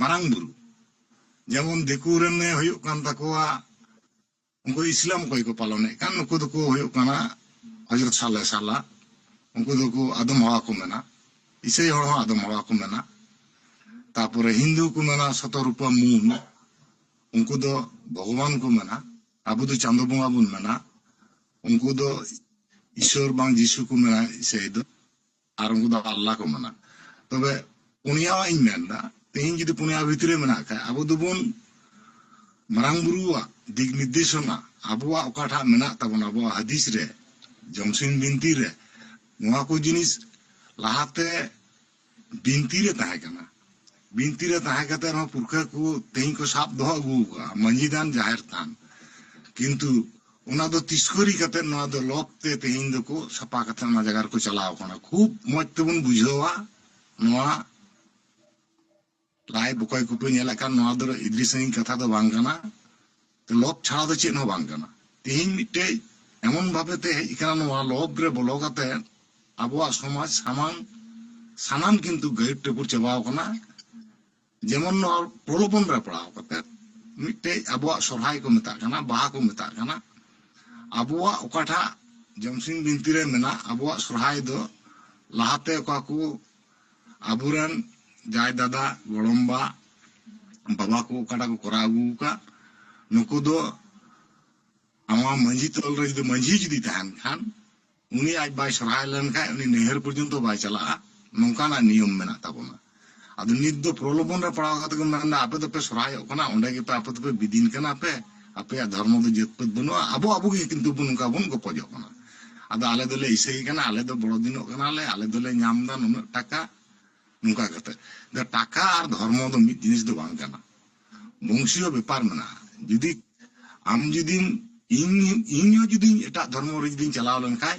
ᱢᱟᱨᱟᱝ ᱵᱩᱨᱩ ᱡᱮᱢᱚᱱ ᱫᱤᱠᱩ ᱨᱮᱱ ᱮ ᱦᱩᱭᱩᱜ ᱠᱟᱱ ᱛᱟᱠᱚᱣᱟ ᱩᱱᱠᱩ ᱤᱥᱞᱟᱢ ᱚᱠᱚᱭ ᱠᱚ ᱯᱟᱞᱚᱱᱮᱫ ᱠᱟᱱ ᱱᱩᱠᱩ ᱫᱚ ᱠᱚ ᱦᱩᱭᱩᱜ ᱠᱟᱱᱟ ᱦᱚᱡᱨᱚᱛ ᱥᱟᱞᱮ ᱥᱟᱞᱟ ᱩᱱᱠᱩ ᱫᱚ ᱠᱚ ᱟᱫᱚᱢ ᱦᱚᱲ ᱠᱚ ᱢᱮᱱᱟ ᱤᱥᱟᱹᱭ ᱦᱚᱲ ᱦᱚᱸ ᱟᱫᱚᱢ ᱦᱚᱲ ᱠᱚ ᱢᱮᱱᱟ ᱛᱟᱨᱯᱚᱨᱮ ᱦᱤᱱᱫᱩ ᱠᱚ ᱢᱮᱱᱟ ᱥᱚᱛᱚ ᱨᱩᱯᱟ ᱢᱩᱱ ᱩᱱᱠᱩ ᱫᱚ ᱵᱷᱚᱜᱚᱵᱟᱱ ᱠᱚ ᱢᱮᱱᱟ ᱟᱵᱚ ᱫᱚ ᱪᱟᱸᱫᱚ ᱵᱚᱸᱜᱟ ᱵᱚᱱ ᱢᱮᱱᱟ ᱩᱱᱠᱩ ᱫᱚ ᱤᱥᱚᱨ ᱵᱟᱝ ᱡᱤᱥᱩ ᱠᱚ ᱢᱮᱱᱟ ᱤᱥᱟᱹᱭ ᱫᱚ ᱟᱨ ᱩᱱᱠᱩ ᱫᱚ ᱟᱞᱞᱟ ᱠᱚ ᱢᱟᱱᱟ ᱛᱚᱵᱮ ᱯᱩᱱᱭᱟᱣᱟᱜ ᱤᱧ ᱢᱮᱱᱫᱟ ᱛᱮᱦᱮᱧ ᱡᱩᱫᱤ ᱯᱩᱱᱭᱟ ᱵᱷᱤᱛᱨᱤ ᱢᱮᱱᱟᱜ ᱠᱷᱟᱡ ᱟᱵᱚ ᱫᱚᱵᱚᱱ ᱢᱟᱨᱟᱝ ᱵᱩᱨᱩᱣᱟᱜ ᱫᱤᱠ ᱱᱤᱨᱫᱮᱥᱚᱱᱟ ᱟᱵᱚᱣᱟᱜ ᱚᱠᱟᱴᱟᱜ ᱢᱮᱱᱟᱜ ᱛᱟᱵᱚᱱᱟ ᱟᱵᱚᱣᱟᱜ ᱦᱟᱫᱤᱥ ᱨᱮ ᱡᱚᱢᱥᱤᱱ ᱵᱤᱱᱛᱤ ᱨᱮ ᱱᱚᱣᱟ ᱠᱚ ᱡᱤᱱᱤᱥ ᱞᱟᱦᱟᱛᱮ ᱵᱤᱱᱛᱤ ᱨᱮ ᱛᱟᱦᱮᱸ ᱠᱟᱱᱟ ᱵᱤᱱᱛᱤ ᱨᱮ ᱛᱟᱦᱮᱸ ᱠᱟᱛᱮ ᱨᱮᱦᱚᱸ ᱯᱩᱨᱠᱷᱟᱹ ᱠᱚ ᱛᱮᱦᱮᱧ ᱠᱚ ᱥᱟᱵ ᱫᱚᱦᱚ ᱟᱹᱜᱩ ᱟᱠᱟᱫᱼᱟ ᱢᱟᱹᱡᱷᱤ ᱛᱷᱟᱱ ᱡᱟᱦᱮᱨ ᱛᱷᱟᱱ ᱠᱤᱱᱛᱩ ᱚᱱᱟ ᱫᱚ ᱛᱤᱥᱠᱚᱨᱤ ᱠᱟᱛᱮ ᱱᱚᱣᱟ ᱫᱚ ᱞᱚᱠ ᱛᱮ ᱛᱮᱦᱮᱧ ᱫᱚᱠᱚ ᱥᱟᱯᱟ ᱠᱟᱛᱮ ᱚᱱᱟ ᱡᱟᱭᱜᱟ ᱨᱮᱠᱚ ᱪᱟᱞᱟᱣ ᱟᱠᱟᱱᱟ ᱠᱷᱩᱵ ᱢᱚᱡᱽ ᱛᱮᱵᱚᱱ ᱵᱩᱡᱷᱟᱹᱣᱟ ᱱᱚᱣᱟ ᱞᱟᱭᱤᱵᱷ ᱚᱠᱚᱭ ᱠᱚᱯᱮ ᱧᱮᱞᱮᱫ ᱠᱟᱱ ᱱᱚᱣᱟ ᱫᱚ ᱤᱫᱤ ᱥᱟᱺᱜᱤᱧ ᱠᱟᱛᱷᱟ ᱫᱚ ᱵᱟᱝ ᱠᱟᱱᱟ ᱞᱚᱵᱽ ᱪᱷᱟᱲᱟ ᱫᱚ ᱪᱮᱫ ᱦᱚᱸ ᱵᱟᱝ ᱠᱟᱱᱟ᱾ ᱛᱮᱦᱮᱧ ᱢᱤᱫᱴᱮᱡ ᱮᱢᱚᱱ ᱵᱷᱟᱵᱮ ᱛᱮ ᱦᱮᱡ ᱟᱠᱟᱱᱟ ᱱᱚᱣᱟ ᱞᱚᱵᱽ ᱨᱮ ᱵᱚᱞᱚ ᱠᱟᱛᱮ ᱟᱵᱚᱣᱟᱜ ᱥᱚᱢᱟᱡᱽ ᱥᱟᱢᱟᱝ ᱥᱟᱱᱟᱢ ᱠᱤᱱᱛᱩ ᱜᱟᱹᱦᱤᱨ ᱴᱟᱹᱯᱩᱨ ᱪᱟᱵᱟ ᱟᱠᱟᱱᱟ᱾ ᱡᱮᱢᱚᱱ ᱱᱚᱣᱟ ᱯᱨᱚᱞᱚᱵᱚᱱ ᱨᱮ ᱯᱟᱲᱟᱣ ᱠᱟᱛᱮ ᱢᱤᱫᱴᱮᱡ ᱟᱵᱚᱣᱟᱜ ᱥᱚᱨᱦᱟᱭ ᱠᱚ ᱢᱮᱛᱟᱜ ᱠᱟᱱᱟ, ᱵᱟᱦᱟ ᱠᱚ ᱢᱮᱛᱟᱜ ᱠᱟᱱᱟ᱾ ᱟᱵᱚᱣᱟᱜ ᱚᱠᱟᱴᱟᱜ ᱡᱚᱢᱥᱤᱢ ᱵᱤᱱᱛᱤ ᱨᱮ ᱢᱮᱱᱟᱜ ᱟᱵᱚᱣᱟᱜ ᱥᱚᱨᱦᱟᱭ ᱫᱚ ᱞᱟᱦᱟᱛᱮ ᱚᱠᱟ ᱠᱚ ᱟᱵᱚᱨᱮᱱ ᱡᱟᱦᱟᱸᱭ ᱫᱟᱫᱟ ᱜᱚᱲᱚᱢ ᱵᱟ ᱵᱟᱵᱟ ᱠᱚ ᱚᱠᱟᱴᱟᱜ ᱠᱚ ᱠᱚᱨᱟᱣ ᱟᱹᱜᱩ ᱟᱠᱟᱫ ᱱᱩᱠᱩ ᱫᱚ ᱟᱢᱟᱜ ᱢᱟᱺᱡᱷᱤ ᱛᱚᱞ ᱨᱮ ᱡᱩᱫᱤ ᱢᱟᱺᱡᱷᱤ ᱡᱩᱫᱤ ᱛᱟᱦᱮᱱ ᱠᱷᱟᱱ ᱩᱱᱤ ᱟᱡ ᱵᱟᱭ ᱥᱚᱨᱦᱟᱭ ᱞᱮᱱᱠᱷᱟᱱ ᱩᱱᱤ ᱱᱟᱹᱭᱦᱟᱹᱨ ᱯᱚᱨᱡᱚᱱᱛᱚ ᱵᱟᱭ ᱪᱟᱞᱟᱜᱼᱟ ᱱᱚᱝᱠᱟᱱᱟᱜ ᱱᱤᱭᱚᱢ ᱢᱮᱱᱟᱜ ᱛᱟᱵᱚᱱᱟ ᱟᱫᱚ ᱱᱤᱛ ᱫᱚ ᱯᱨᱚᱞᱚᱵᱚᱱ ᱨᱮ ᱯᱟᱲᱟᱣ ᱠᱟᱛᱮ ᱠᱚ ᱢᱮᱱᱫᱟ ᱟᱯᱮ ᱫᱚᱯᱮ ᱥᱚᱨᱦᱟᱭᱚᱜ ᱠᱟᱱᱟ ᱚᱸᱰᱮ ᱜᱮᱯᱮ ᱟᱯᱮ ᱫᱚᱯᱮ ᱵᱤᱫᱤᱱ ᱠᱟᱱᱟ ᱯᱮ ᱟᱯᱮᱭᱟᱜ ᱫᱷᱚᱨᱢᱚ ᱫᱚ ᱡᱟᱹᱛ ᱯᱟᱹᱛ ᱵᱟᱹᱱᱩᱜᱼᱟ ᱟᱵᱚ ᱟᱵᱚ ᱜᱮ ᱠᱤᱱᱛᱩ ᱵᱚᱱ ᱱᱚᱝᱠᱟ ᱵᱚᱱ ᱜᱚᱯᱚᱡᱚᱜ ᱠᱟᱱᱟ ᱟᱫᱚ ᱟᱞᱮ ᱫᱚᱞᱮ ᱤᱥᱟᱹᱭ ᱠᱟᱱᱟ ᱟᱞᱮ ᱫᱚ ᱵᱚᱲᱚ ᱫᱤᱱᱚᱜ ᱠᱟᱱᱟ ᱞᱮ ᱟᱞᱮ ᱫᱚᱞᱮ ᱧᱟᱢ ᱫᱟ ᱱᱩᱱᱟᱹᱜ ᱴᱟᱠᱟ ᱱᱚᱝᱠᱟ ᱠᱟᱛᱮ ᱫᱚ ᱴᱟᱠᱟ ᱟᱨ ᱫᱷᱚᱨᱢᱚ ᱫᱚ ᱢᱤᱫ ᱡᱤᱱᱤᱥ ᱫᱚ ᱵᱟᱝ ᱠᱟᱱᱟ ᱵᱚᱝᱥᱤᱭᱚ ᱵᱮᱯᱟᱨ ᱢᱮᱱᱟᱜᱼᱟ ᱡᱩᱫᱤ ᱟᱢ ᱡᱩᱫᱤᱢ ᱤᱧ ᱤᱧ ᱦᱚᱸ ᱡᱩᱫᱤ ᱮᱴᱟᱜ ᱫᱷᱚᱨᱢᱚ ᱨᱮ ᱡᱩᱫᱤᱧ ᱪᱟᱞᱟᱣ ᱞᱮᱱᱠᱷᱟᱡ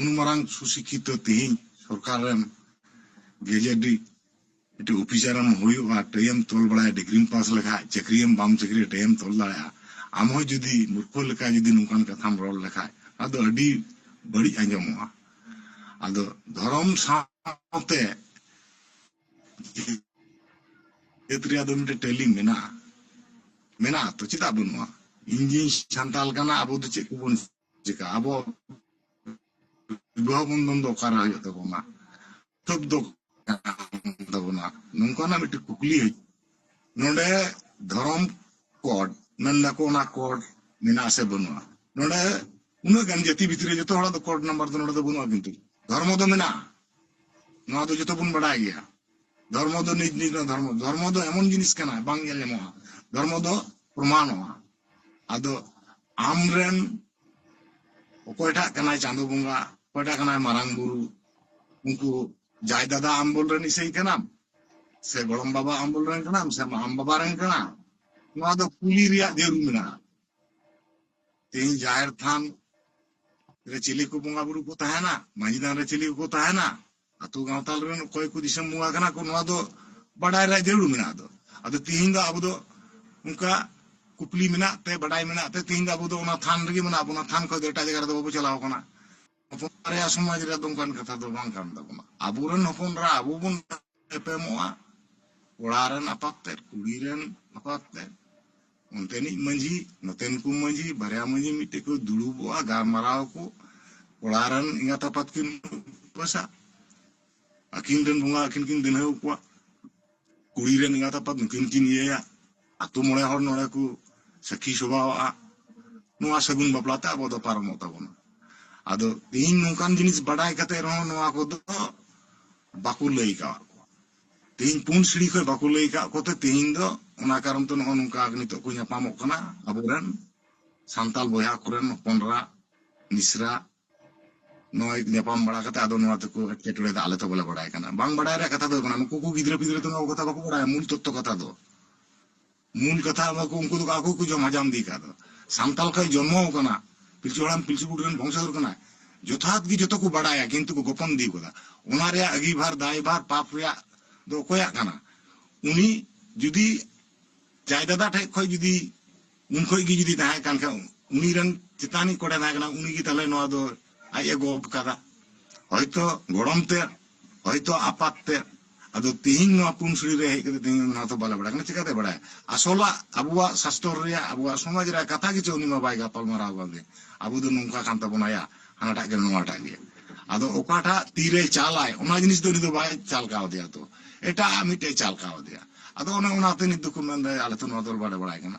ᱩᱱ ᱢᱟᱨᱟᱝ ᱥᱩᱥᱤᱠᱷᱤᱛᱚ ᱛᱮᱦᱮᱧ ᱥᱚᱨᱠᱟᱨ ᱨᱮᱢ ᱜᱮᱡᱮᱴ ᱤᱴ ᱚᱯᱷᱤᱥᱟᱨ ᱮᱢ ᱦᱩᱭᱩᱜᱼᱟ ᱴᱟᱹᱭᱮᱢ ᱛᱚᱞ ᱵᱟᱲᱟᱭᱟ ᱰᱤᱜᱽᱨᱤᱢ ᱯᱟᱥ ᱞᱮᱠᱷᱟᱡ ᱪᱟᱹᱠᱨᱤᱭᱟᱢ ᱵᱟᱢ ᱪᱟᱹᱠᱨᱤᱭᱟ ᱴᱟᱹᱭᱮᱢ ᱛᱚᱞ ᱫᱟᱲᱮᱭᱟᱜᱼᱟ ᱟᱢ ᱦᱚᱸ ᱡᱩᱫᱤ ᱢᱩᱨᱠᱷᱚ ᱞᱮᱠᱟ ᱡᱩᱫᱤ ᱱᱚᱝᱠᱟᱱ ᱠᱟᱛᱷᱟᱢ ᱨᱚᱲ ᱞᱮᱠᱷᱟᱡ ᱟᱫᱚ ᱟᱹᱰᱤ ᱵᱟᱹᱲᱤᱡ ᱟᱸᱡᱚᱢᱚᱜᱼᱟ ᱟᱫᱚ ᱫᱷᱚᱨᱚᱢ ᱥᱟᱶᱛᱮ ᱡᱟᱹᱛ ᱨᱮᱭᱟᱜ ᱫᱚ ᱢᱤᱫᱴᱮᱱ ᱴᱟᱹᱞᱤ ᱢᱮᱱᱟᱜᱼᱟ ᱢᱮᱱᱟᱜᱼᱟ ᱛᱚ ᱪᱮᱫᱟᱜ ᱵᱟᱹᱱᱩᱜᱼᱟ ᱤᱧ ᱡᱮᱧ ᱥᱟᱱᱛᱟᱞ ᱠᱟᱱᱟ ᱟᱵᱚ ᱫᱚ ᱪᱮᱫ ᱠᱚᱵᱚᱱ ᱪᱤᱠᱟ ᱟᱵᱚ ᱵᱤᱵᱟᱦᱚ ᱵᱚᱱᱫᱷᱚᱱ ᱫᱚ ᱚᱠᱟᱨᱮ ᱦᱩᱭᱩᱜ ᱛᱟᱵᱚᱱᱟ ᱛᱚᱵ ᱫᱚ ᱛᱟᱵᱚᱱᱟ ᱱᱚᱝᱠᱟᱱᱟᱜ ᱢᱤᱫᱴᱮᱱ ᱠᱩᱠᱞᱤ ᱦᱮᱡ ᱱᱚᱰᱮ ᱫᱷᱚᱨᱚᱢ ᱠᱚᱰ ᱢᱮᱱ ᱫᱟᱠᱚ ᱚᱱᱟ ᱠᱚᱰ ᱢᱮᱱᱟᱜ ᱥᱮ ᱵᱟᱹᱱᱩᱜᱼᱟ ᱱᱚᱰᱮ ᱩᱱᱟᱹᱜ ᱜᱟᱱ ᱡᱟᱹᱛᱤ ᱵᱷᱤᱛᱨᱤ ᱨᱮ ᱡᱚᱛᱚ ᱦᱚᱲᱟᱜ ᱫᱚ ᱠᱚᱰ ᱱᱟᱢᱵᱟᱨ ᱫᱚ ᱱᱚᱰᱮ ᱫᱚ ᱵᱟᱹᱱᱩᱜᱼᱟ ᱠᱤᱱᱛᱩ ᱫᱷᱚᱨᱢᱚ ᱫᱚ ᱢᱮᱱᱟᱜᱼᱟ ᱱᱚᱣᱟ ᱫᱚ ᱡᱚᱛᱚ ᱵᱚᱱ ᱵᱟᱰᱟᱭ ᱜᱮᱭᱟ ᱫᱷᱚᱨᱢᱚ ᱫᱚ ᱱᱤᱡ ᱱᱤᱡ ᱫᱷᱚᱨᱢᱚ ᱫᱷᱚᱨᱢᱚ ᱫᱚ ᱮᱢᱚᱱ ᱡᱤᱱᱤᱥ ᱠᱟᱱᱟ ᱵᱟᱝ ᱧᱮᱞ ᱧᱟᱢᱚᱜᱼᱟ ᱫᱷᱚᱨᱢᱚ ᱫᱚ ᱯᱨᱚᱢᱟᱱᱚᱜᱼᱟ ᱟᱫᱚ ᱟᱢᱨᱮᱱ ᱚᱠᱚᱭᱴᱟᱜ ᱠᱟᱱᱟᱭ ᱪᱟᱸᱫᱚ ᱵᱚᱸᱜᱟ ᱚᱠᱚᱭᱴᱟᱜ ᱠᱟᱱᱟᱭ ᱢᱟᱨᱟᱝ ᱵᱩᱨᱩ ᱩᱱᱠᱩ ᱡᱟᱭ ᱫᱟᱫᱟ ᱟᱢᱵᱚᱞ ᱨᱮᱱ ᱤᱥᱟᱹᱭ ᱠᱟᱱᱟᱢ ᱥᱮ ᱜᱚᱲᱚᱢ ᱵᱟᱵᱟ ᱟᱢᱵᱚᱞ ᱨᱮᱱ ᱠᱟᱱᱟᱢ ᱥᱮ ᱟᱢ ᱵᱟᱵᱟ ᱨᱮᱱ ᱠᱟᱱᱟ ᱱᱚᱣᱟ ᱫᱚ ᱠᱩᱞᱤ ᱨᱮᱭᱟᱜ ᱡᱟᱹᱨᱩᱲ ᱢᱮᱱᱟᱜᱼᱟ ᱛᱮᱦᱮᱧ ᱡᱟᱦᱮᱨ ᱛᱷᱟᱱ ᱨᱮ ᱪᱤᱞᱤ ᱠᱚ ᱵᱚᱸᱜᱟ ᱵᱩᱨᱩ ᱠᱚ ᱛᱟᱦᱮᱱᱟ ᱢᱟᱹᱡᱷᱤ ᱛᱷᱟᱱ ᱨᱮ ᱪᱤᱞᱤ ᱠᱚ ᱛᱟᱦᱮᱱᱟ ᱟᱛᱳ ᱜᱟᱶᱛᱟ ᱨᱮᱱ ᱚᱠᱚᱭ ᱠᱚ ᱫᱤᱥᱚᱢ ᱵᱚᱸᱜᱟ ᱠᱟᱱᱟ ᱠᱚ ᱱᱚᱣᱟ ᱫᱚ ᱵᱟᱰᱟᱭ ᱨᱮᱭᱟᱜ ᱡᱟᱹᱨᱩᱲ ᱢᱮᱱᱟᱜᱼᱟ ᱟᱫᱚ ᱟᱫᱚ ᱛᱤᱦᱤᱧ ᱫᱚ ᱟᱵᱚ ᱫᱚ ᱚᱱᱠᱟ ᱠᱩᱠᱞᱤ ᱢᱮᱱᱟᱜ ᱛᱮ ᱵᱟᱰᱟᱭ ᱢᱮᱱᱟᱜ ᱛᱮ ᱛᱤᱦᱤᱧ ᱫᱚ ᱟᱵᱚ ᱫᱚ ᱚᱱᱟ ᱛᱷᱟᱱ ᱨᱮᱜᱮ ᱢᱮᱱᱟᱜ ᱵᱚᱱᱟ ᱛᱷᱟᱱ ᱠᱷᱚᱱ ᱫᱚ ᱮᱴᱟᱜ ᱡᱟᱭᱜᱟ ᱨᱮᱫᱚ ᱵᱟᱵᱚ ᱪᱟᱞᱟᱣ ᱠᱟᱱᱟ ᱦᱚᱯᱚᱱ ᱨᱮᱭᱟᱜ ᱥᱚᱢᱟᱡᱽ ᱨᱮ ᱫᱚ ᱚᱱᱠᱟᱱ ᱠᱟᱛᱷᱟ ᱫᱚ ᱵᱟᱝ ᱠᱟᱱ ᱛᱟᱵᱚᱱᱟ ᱟᱵᱚᱨᱮᱱ ᱦᱚᱯᱚᱱ ᱨᱟ ᱟᱵᱚ ᱵᱚᱱ ᱮᱯᱮᱢᱚᱜᱼᱟ ᱠᱚᱲᱟ ᱨᱮᱱ ᱟᱯᱟᱛ ᱛᱮᱫ ᱠᱩᱲᱤ ᱨᱮᱱ ᱟᱯᱟᱛ ᱛᱮᱫ ᱚᱱᱛᱮᱱᱤᱡ ᱢᱟᱹᱡᱷᱤ ᱱᱚᱛᱮᱱ ᱠᱚ ᱢᱟᱹᱡᱷᱤ ᱵᱟᱨᱭᱟ ᱢᱟᱹᱡᱷᱤ ᱢᱤᱫᱴᱮᱡ ᱠᱚ ᱫᱩᱲᱩᱵᱚᱜᱼᱟ ᱜᱟᱞᱢᱟᱨᱟᱣ ᱟᱠᱚ ᱠᱚᱲᱟ ᱨᱮᱱ ᱮᱸᱜᱟᱛ ᱟᱯᱟᱛ ᱠᱤᱱ ᱩᱯᱟᱹᱥᱟ ᱟᱹᱠᱤᱱ ᱨᱮᱱ ᱵᱚᱸᱜᱟ ᱟᱹᱠᱤᱱ ᱠᱤᱱ ᱫᱤᱱᱦᱟᱹ ᱠᱚᱣᱟ ᱠᱩᱲᱤ ᱨᱮᱱ ᱮᱸᱜᱟᱛ ᱟᱯᱟᱛ ᱱᱩᱠᱤᱱ ᱠᱤᱱ ᱤᱭᱟᱹᱭᱟ ᱟᱛᱳ ᱢᱚᱬᱮ ᱦᱚᱲ ᱱᱚᱰᱮ ᱠᱚ ᱥᱟᱹᱠᱷᱤ ᱥᱚᱵᱷᱟᱣᱟᱜᱼᱟ ᱱᱚᱣᱟ ᱥᱟᱹᱜᱩᱱ ᱵᱟᱯᱞᱟ ᱛᱮ ᱟᱵᱚ ᱫᱚ ᱯᱟᱨᱚᱢᱚᱜ ᱛᱟᱵᱚᱱᱟ ᱟᱫᱚ ᱛᱮᱦᱤᱧ ᱱᱚᱝᱠᱟᱱ ᱡᱤᱱᱤᱥ ᱵᱟᱰᱟᱭ ᱠᱟᱛᱮ ᱨᱮᱦᱚᱸ ᱱᱚᱣᱟ ᱠᱚᱫᱚ ᱵᱟᱠᱚ ᱞᱟᱹᱭ ᱠᱟᱜ ᱠᱚᱣᱟ ᱛᱮᱦᱮᱧ ᱯᱩᱱ ᱥᱤᱲᱤ ᱠᱷᱚᱡ ᱵᱟᱠᱚ ᱞᱟᱹᱭ ᱟᱠᱟᱫ ᱠᱚᱛᱮ ᱛᱮᱦᱮᱧ ᱫᱚ ᱚᱱᱟ ᱠᱟᱨᱚᱱ ᱛᱮ ᱱᱚᱜᱼᱚ ᱱᱚᱝᱠᱟ ᱱᱤᱛᱚᱜ ᱠᱚ ᱧᱟᱯᱟᱢᱚᱜ ᱠᱟᱱᱟ ᱟᱵᱚᱨᱮᱱ ᱥᱟᱱᱛᱟᱞ ᱵᱚᱭᱦᱟ ᱠᱚᱨᱮᱱ ᱦᱚᱯᱚᱱᱨᱟ ᱢᱤᱥᱨᱟ ᱱᱚᱜᱼᱚᱭ ᱧᱟᱯᱟᱢ ᱵᱟᱲᱟ ᱠᱟᱛᱮ ᱟᱫᱚ ᱱᱚᱣᱟ ᱛᱮᱠᱚ ᱮᱴᱠᱮᱴᱚᱬᱮ ᱫᱚ ᱟᱞᱮ ᱛᱚ ᱵᱟᱞᱮ ᱵᱟᱲᱟᱭ ᱠᱟᱱᱟ ᱵᱟᱝ ᱵᱟᱲᱟᱭ ᱨᱮᱭᱟᱜ ᱠᱟᱛᱷᱟ ᱫᱚ ᱠᱟᱱᱟ ᱱᱩᱠᱩ ᱠᱚ ᱜᱤᱫᱽᱨᱟᱹ ᱯᱤᱫᱽᱨᱟᱹ ᱫᱚ ᱱᱚᱣᱟ ᱠᱟᱛᱷᱟ ᱵᱟᱠᱚ ᱵᱟᱲᱟᱭᱟ ᱢᱩᱞ ᱛᱚᱛᱛᱚ ᱠᱟᱛᱷᱟ ᱫᱚ ᱢᱩᱞ ᱠᱟᱛᱷᱟ ᱟᱵᱚ ᱠᱚ ᱩᱱᱠᱩ ᱫᱚ ᱟᱠᱚ ᱜᱮᱠᱚ ᱡᱚᱢ ᱦᱟᱡᱟᱢ ᱤᱫᱤ ᱟᱠᱟᱫ ᱫᱚ ᱥᱟᱱᱛᱟᱞ ᱠᱷᱚᱱ ᱡᱚᱱᱢᱚ ᱟᱠᱟᱱᱟ ᱯᱤᱞᱪᱩ ᱦᱟᱲᱟᱢ ᱯᱤᱞᱪᱩ ᱵᱩᱰᱷᱤ ᱨᱮᱱ ᱵᱚᱝᱥᱚᱫᱷᱚᱨ ᱠᱟᱱᱟᱭ ᱡᱚᱛᱷᱟᱛ ᱜᱮ ᱡᱚᱛᱚ ᱠᱚ ᱵᱟᱰᱟᱭᱟ ᱠᱤᱱᱛᱩ ᱠᱚ ᱜᱚᱯᱚᱱ ᱤᱫᱤ ᱟᱠᱟᱫᱟ ᱚᱱᱟ ᱨᱮᱭᱟᱜ ᱟᱹᱜᱤᱵᱷᱟᱨ ᱫᱟᱭᱵᱷᱟᱨ ᱯᱟᱯ ᱨᱮᱭᱟᱜ ᱫᱚ ᱚᱠᱚᱭᱟᱜ ᱠᱟᱱᱟ ᱩᱱᱤ ᱡᱩᱫᱤ ᱡᱟᱭ ᱫᱟᱫᱟ ᱴᱷᱮᱱ ᱠᱷᱚᱱ ᱡᱩᱫᱤ ᱩᱱ ᱠᱷᱚᱱ ᱜᱮ ᱡᱩᱫᱤ ᱛᱟᱦᱮᱸ ᱠᱟᱱ ᱠᱷᱟᱱ ᱩᱱᱤ ᱨᱮᱱ ᱪᱮᱛᱟᱱᱤᱡ ᱚᱠᱚᱭ ᱴᱷᱮᱱ ᱛᱟᱦᱮᱸ ᱠᱟᱱᱟ ᱩᱱᱤ ᱜᱮ ᱛᱟᱦᱚᱞᱮ ᱱᱚᱣᱟ ᱫᱚ ᱟᱡ ᱮ ᱜᱚᱜ ᱠᱟᱫᱟ ᱦᱚᱭᱛᱚ ᱜᱚᱲᱚᱢ ᱛᱮᱫ ᱦᱚᱭᱛᱚ ᱟᱯᱟᱛ ᱛᱮᱫ ᱟᱫᱚ ᱛᱤᱦᱤᱧ ᱱᱚᱣᱟ ᱯᱩᱱᱥᱲᱤ ᱨᱮ ᱦᱮᱡ ᱠᱟᱛᱮ ᱛᱤᱦᱤᱧ ᱚᱱᱟ ᱦᱚᱸᱛᱚ ᱵᱟᱞᱮ ᱵᱟᱲᱟᱭ ᱠᱟᱱᱟ ᱪᱤᱠᱟᱛᱮ ᱵᱟᱲᱟᱭᱟ ᱟᱥᱚᱞᱟᱜ ᱟᱵᱚᱣᱟᱜ ᱥᱟᱥᱛᱚᱨ ᱨᱮᱭᱟᱜ ᱟᱵᱚᱣᱟᱜ ᱥᱚᱢᱟᱡᱽ ᱨᱮᱭᱟᱜ ᱠᱟᱛᱷᱟ ᱜᱮᱪᱚ ᱩᱱᱤ ᱢᱟ ᱵᱟᱭ ᱜᱟᱯᱟᱞ ᱢᱟᱨᱟᱣ ᱠᱟᱱ ᱜᱮ ᱟᱵᱚ ᱫᱚ ᱱᱚᱝᱠᱟ ᱠᱟᱱ ᱛᱟᱵᱚᱱᱟ ᱭᱟ ᱦᱟᱱᱟᱴᱟᱜ ᱜᱮ ᱱᱚᱣᱟᱴᱟᱜ ᱜᱮ ᱟᱫᱚ ᱚᱠᱟᱴᱟᱜ ᱛᱤᱨᱮ ᱪᱟᱞᱟᱭ ᱚᱱᱟ ᱡᱤᱱᱤᱥ ᱫᱚ ᱩᱱᱤ ᱫᱚ ᱵᱟᱭ ᱪᱟᱞ ᱠᱟᱣᱫᱮᱭᱟ ᱛᱚ ᱮᱴᱟᱜ ᱢᱤᱫᱴᱮᱡ ᱪᱟᱞ ᱠᱟᱣᱫᱮᱭᱟ ᱟᱫᱚ ᱚᱱᱮ ᱚᱱᱟᱛᱮ ᱱᱤᱛ ᱫᱚᱠᱚ ᱢᱮᱱᱫᱟ ᱟᱞᱮ ᱛᱚ ᱱᱚᱣᱟ ᱫᱚ ᱵᱟᱞᱮ ᱵᱟᱲᱟᱭ ᱠᱟᱱᱟ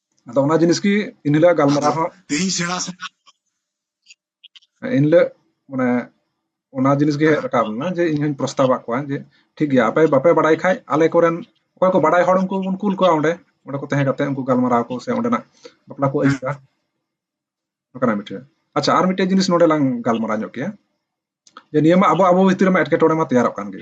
ᱟᱫᱚ ᱚᱱᱟ ᱡᱤᱱᱤᱥ ᱜᱮ ᱤᱱ ᱦᱤᱞᱳᱜ ᱜᱟᱞᱢᱟᱨᱟᱣ ᱦᱚᱸ ᱛᱮᱦᱮᱧ ᱥᱮᱬᱟ ᱥᱮᱬᱟ ᱤᱱ ᱦᱤᱞᱳᱜ ᱢᱟᱱᱮ ᱚᱱᱟ ᱡᱤᱱᱤᱥ ᱜᱮ ᱦᱮᱡ ᱨᱟᱠᱟᱵ ᱞᱮᱱᱟ ᱡᱮ ᱤᱧ ᱦᱚᱧ ᱯᱨᱚᱥᱛᱟᱵ ᱟᱫ ᱠᱚᱣᱟ ᱡᱮ ᱴᱷᱤᱠ ᱜᱮᱭᱟ ᱟᱯᱮ ᱵᱟᱯᱮ ᱵᱟᱲᱟᱭ ᱠᱷᱟᱡ ᱟᱞᱮ ᱠᱚᱨᱮᱱ ᱚᱠᱚᱭ ᱠᱚ ᱵᱟᱲᱟᱭ ᱦᱚᱲ ᱩᱱᱠᱩ ᱵᱚᱱ ᱠᱩᱞ ᱠᱚᱣᱟ ᱚᱸᱰᱮ ᱚᱸᱰᱮ ᱠᱚ ᱛᱟᱦᱮᱸ ᱠᱟᱛᱮ ᱩᱱᱠᱩ ᱜᱟᱞᱢᱟᱨᱟᱣ ᱠᱚ ᱥᱮ ᱚᱸᱰᱮᱱᱟᱜ ᱵᱟᱯᱞᱟ ᱠᱚ ᱟᱹᱭᱩᱨᱟ ᱱᱚᱝᱠᱟᱱᱟᱜ ᱢᱤᱫᱴᱮᱡ ᱟᱪᱪᱷᱟ ᱟᱨ ᱢᱤᱫᱴᱮᱡ ᱡᱤᱱᱤᱥ ᱱᱚᱰᱮ ᱞᱟᱝ ᱜᱟᱞᱢᱟᱨᱟᱣ ᱧᱚᱜ ᱠᱮᱭᱟ ᱡᱮ ᱱᱤᱭᱟᱹ ᱢᱟ ᱟᱵᱚ ᱟᱵᱚ ᱵᱷᱤᱛᱤᱨ ᱨᱮᱢᱟ ᱮᱴᱠᱮᱴᱚᱬᱮ ᱢᱟ ᱛᱮᱭᱟᱨᱚᱜ ᱠᱟᱱ ᱜᱮ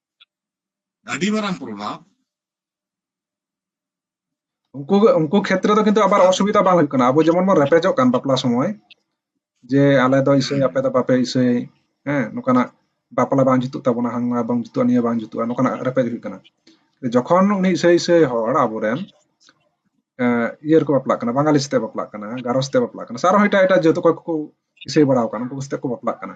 ᱟᱹᱰᱤ ᱢᱟᱨᱟᱝ ᱯᱨᱚᱵᱷᱟᱵᱽ ᱩᱱᱠᱩ ᱩᱱᱠᱩ ᱠᱷᱮᱛᱨᱮ ᱫᱚ ᱠᱤᱱᱛᱩ ᱟᱵᱟᱨ ᱚᱥᱩᱵᱤᱫᱷᱟ ᱵᱟᱝ ᱦᱩᱭᱩᱜ ᱠᱟᱱᱟ ᱟᱵᱚ ᱡᱮᱢᱚᱱ ᱵᱚᱱ ᱨᱮᱯᱮᱡᱚᱜ ᱠᱟᱱ ᱵᱟᱯᱞᱟ ᱥᱚᱢᱚᱭ ᱡᱮ ᱟᱞᱮ ᱫᱚ ᱤᱥᱟᱹᱭ ᱟᱯᱮ ᱫᱚ ᱵᱟᱯᱮ ᱤᱥᱟᱹᱭ ᱦᱮᱸ ᱱᱚᱝᱠᱟᱱᱟᱜ ᱵᱟᱯᱞᱟ ᱵᱟᱝ ᱡᱩᱛᱩᱜ ᱛᱟᱵᱚᱱᱟ ᱦᱟᱱᱟ ᱵᱟᱝ ᱡᱩᱛᱩᱜᱼᱟ ᱱᱤᱭᱟᱹ ᱵᱟᱝ ᱡᱩᱛᱩᱜᱼᱟ ᱱᱚᱝᱠᱟᱱᱟᱜ ᱨᱮᱯᱮᱡ ᱦᱩᱭᱩᱜ ᱠᱟᱱᱟ ᱡᱚᱠᱷᱚᱱ ᱩᱱᱤ ᱤᱥᱟᱹᱭ ᱤᱥᱟᱹᱭ ᱦᱚᱲ ᱟᱵᱚᱨᱮᱱ ᱤᱭᱟᱹ ᱨᱮᱠᱚ ᱵᱟᱯᱞᱟᱜ ᱠᱟᱱᱟ ᱵᱟᱝᱜᱟᱞᱤ ᱥᱟᱛᱮ ᱵᱟᱯᱞᱟᱜ ᱠᱟᱱᱟ ᱜᱟᱨᱚ ᱥᱟᱛᱮ ᱵᱟᱯᱞᱟᱜ ᱠᱟᱱᱟ ᱥᱮ ᱟᱨᱦᱚᱸ ᱮᱴᱟᱜ ᱮᱴᱟᱜ ᱡᱟᱹᱛ ᱚᱠᱚᱭ ᱠᱚᱠᱚ ᱤᱥᱟᱹᱭ ᱵᱟᱲᱟᱣ ᱠᱟᱱᱟ ᱩᱱᱠᱩ ᱥᱟᱛᱮ ᱠᱚ ᱵᱟᱯᱞᱟᱜ ᱠᱟᱱᱟ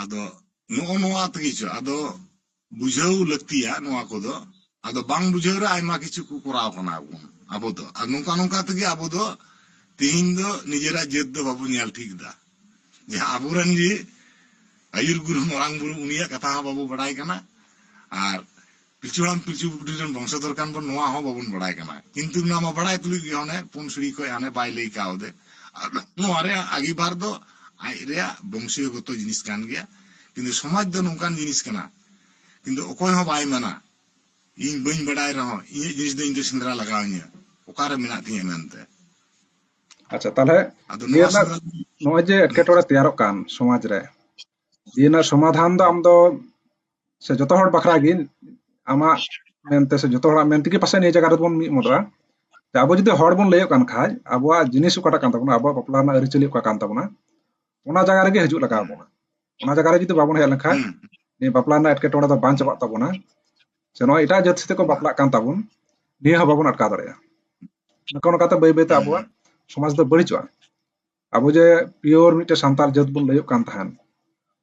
ᱟᱫᱚ ᱱᱚᱜᱼᱚ ᱱᱚᱣᱟ ᱛᱮᱜᱮ ᱪᱚ ᱟᱫᱚ ᱵᱩᱡᱷᱟᱹᱣ ᱞᱟᱹᱠᱛᱤᱭᱟ ᱱᱚᱣᱟ ᱠᱚᱫᱚ ᱟᱫᱚ ᱵᱟᱝ ᱵᱩᱡᱷᱟᱹᱣ ᱨᱮ ᱟᱭᱢᱟ ᱠᱤᱪᱷᱩ ᱠᱚ ᱠᱚᱨᱟᱣ ᱠᱟᱱᱟ ᱵᱚᱱ ᱟᱵᱚ ᱫᱚ ᱟᱨ ᱱᱚᱝᱠᱟ ᱱᱚᱝᱠᱟ ᱛᱮᱜᱮ ᱟᱵᱚ ᱫᱚ ᱛᱤᱦᱤᱧ ᱫᱚ ᱱᱤᱡᱮᱨᱟᱜ ᱡᱟᱹᱛ ᱫᱚ ᱵᱟᱵᱚ ᱧᱮᱞ ᱴᱷᱤᱠ ᱫᱟ ᱡᱟᱦᱟᱸ ᱟᱵᱚᱨᱮᱱ ᱜᱮ ᱟᱹᱭᱩᱨ ᱜᱩᱨᱩ ᱢᱟᱨᱟᱝ ᱵᱩᱨᱩ ᱩᱱᱤᱭᱟᱜ ᱠᱟᱛᱷᱟ ᱦᱚᱸ ᱵᱟᱵᱚ ᱵᱟᱰᱟᱭ ᱠᱟᱱᱟ ᱟᱨ ᱯᱤᱞᱪᱩ ᱦᱟᱲᱟᱢ ᱯᱤᱞᱪᱩ ᱵᱩᱰᱷᱤ ᱨᱮᱱ ᱵᱚᱝᱥᱚᱫᱷᱚᱨ ᱠᱟᱱ ᱵᱚᱱ ᱱᱚᱣᱟ ᱦᱚᱸ ᱵᱟᱵᱚᱱ ᱵᱟᱲᱟᱭ ᱠᱟᱱᱟ ᱠᱤᱱᱛᱩ ᱱᱚᱣᱟ ᱢᱟ ᱵᱟᱲᱟᱭ ᱛᱩᱞᱩᱡ ᱜᱮ ᱦᱟᱱᱮ ᱯᱩᱱ ᱥᱤᱲᱤ ᱠᱷᱚᱱ ᱦᱟᱱᱮ ᱵᱟᱭ ᱞᱟᱹᱭ ᱠᱟᱣᱫᱮ ᱟᱫᱚ ᱱᱚᱣᱟ ᱨᱮᱭᱟᱜ ᱟᱜᱤᱵᱷᱟᱨ ᱫᱚ ᱟᱡ ᱨᱮᱭᱟᱜ ᱵᱚᱝᱥᱤᱭᱚ ᱜᱚᱛᱚ ᱡᱤᱱᱤᱥ ᱠᱟᱱ ᱜᱮᱭᱟ ᱠᱤᱱᱛᱩ ᱥᱚᱢᱟᱡᱽ ᱫᱚ ᱱᱚᱝᱠᱟᱱ ᱡᱤᱱᱤᱥ ᱠᱟᱱᱟ ᱠᱤᱱᱛᱩ ᱚᱠᱚᱭ ᱦᱚᱸ ᱵᱟᱭ ᱢᱮᱱᱟ ᱤᱧ ᱵᱟᱹᱧ ᱵᱟᱰᱟᱭ ᱨᱮᱦᱚᱸ ᱤᱧᱟᱹᱜ ᱡᱤᱱᱤᱥ ᱫᱚ ᱤᱧ ᱫᱚ ᱥᱮᱸᱫᱽᱨᱟ ᱞᱟᱜᱟᱣ ᱤᱧᱟᱹ ᱚᱠᱟ ᱨᱮ ᱢᱮᱱᱟᱜ ᱛᱤᱧᱟᱹ ᱢᱮᱱᱛᱮ ᱟᱪᱪᱷᱟ ᱛᱟᱦᱚᱞᱮ ᱟᱫᱚ ᱱᱤᱭᱟᱹ ᱱᱚᱣᱟ ᱨᱮᱱᱟᱜ ᱥᱮᱸᱫᱽᱨᱟ ᱱᱚᱜᱼᱚᱭ ᱡᱮ ᱮᱴᱠᱮᱴᱚᱬᱮ ᱛᱮᱭᱟᱨᱚᱜ ᱠᱟᱱ ᱥᱚᱢᱟᱡᱽ ᱨᱮ ᱱᱤᱭᱟᱹ ᱨᱮᱱᱟᱜ ᱥᱚᱢᱟᱫᱷᱟᱱ ᱫᱚ ᱟᱢ ᱫᱚ ᱥᱮ ᱡᱚᱛᱚ ᱦᱚᱲ ᱵᱟᱠᱷᱨᱟ ᱜᱮ ᱟᱢᱟᱜ ᱢᱮᱱᱛᱮ ᱥᱮ ᱡᱚᱛᱚ ᱦᱚᱲᱟᱜ ᱢᱮᱱ ᱛᱮᱜᱮ ᱯᱟᱥᱮᱡ ᱱᱤᱭᱟᱹ ᱡᱟᱭᱜᱟ ᱨᱮᱵᱚᱱ ᱢᱤᱫ ᱢᱚᱫᱚᱜᱼᱟ ᱟᱵᱚ ᱡᱩᱫᱤ ᱦᱚᱲ ᱵᱚᱱ ᱞᱟᱹᱭᱚᱜ ᱠᱟᱱ ᱠᱷᱟᱡ ᱟᱵᱚᱣᱟᱜ ᱡᱤᱱᱤᱥ ᱚᱠᱟᱴᱟᱜ ᱠᱟᱱ ᱛᱟᱵᱚᱱᱟ ᱟᱵᱚᱣᱟᱜ ᱵᱟᱯᱞᱟ ᱨᱮᱱᱟᱜ ᱟᱹᱨᱤᱪᱟᱹᱞᱤ ᱚᱠᱟ ᱠᱟᱱ ᱛᱟᱵᱚᱱᱟ ᱚᱱᱟ ᱡᱟᱭᱜᱟ ᱨᱮᱜᱮ ᱦᱤᱡᱩᱜ ᱞᱟᱜᱟᱣ ᱵᱚᱱᱟ ᱚᱱᱟ ᱡᱟᱭᱜᱟ ᱨᱮ ᱡᱩᱫᱤ ᱵᱟᱵᱚᱱ ᱦᱮᱡ ᱞᱮᱱᱠᱷᱟᱡ ᱱᱤᱭᱟᱹ ᱵᱟᱯᱞᱟ ᱨᱮᱱᱟᱜ ᱮᱴᱠᱮᱴᱚᱬᱮ ᱫᱚ ᱵᱟᱝ ᱪᱟᱵᱟᱜ ᱛᱟᱵᱚᱱᱟ ᱥᱮ ᱱᱚᱣᱟ ᱮᱴᱟᱜ ᱡᱟᱹᱛ ᱥᱟᱛᱮ ᱠᱚ ᱵᱟᱯᱞᱟᱜ ᱠᱟᱱ ᱛᱟᱵᱚᱱ ᱱᱤᱭᱟᱹ ᱦᱚᱸ ᱵᱟᱵᱚᱱ ᱟᱴᱠᱟᱣ ᱫᱟᱲᱮᱭᱟᱜᱼᱟ ᱱᱚᱝᱠᱟ ᱱᱚᱝᱠᱟᱛᱮ ᱵᱟᱹᱭ ᱵᱟᱹᱭᱛᱮ ᱟᱵᱚᱣᱟᱜ ᱥᱚᱢᱟᱡᱽ ᱫᱚ ᱵᱟᱹᱲᱤᱡᱚᱜᱼᱟ ᱟᱵᱚ ᱡᱮ ᱯᱤᱭᱳᱨ ᱢᱤᱫᱴᱮᱱ ᱥᱟᱱᱛᱟᱲ ᱡᱟᱹᱛ ᱵᱚᱱ ᱞᱟᱹᱭᱚᱜ ᱠᱟᱱ ᱛᱟᱦᱮᱱ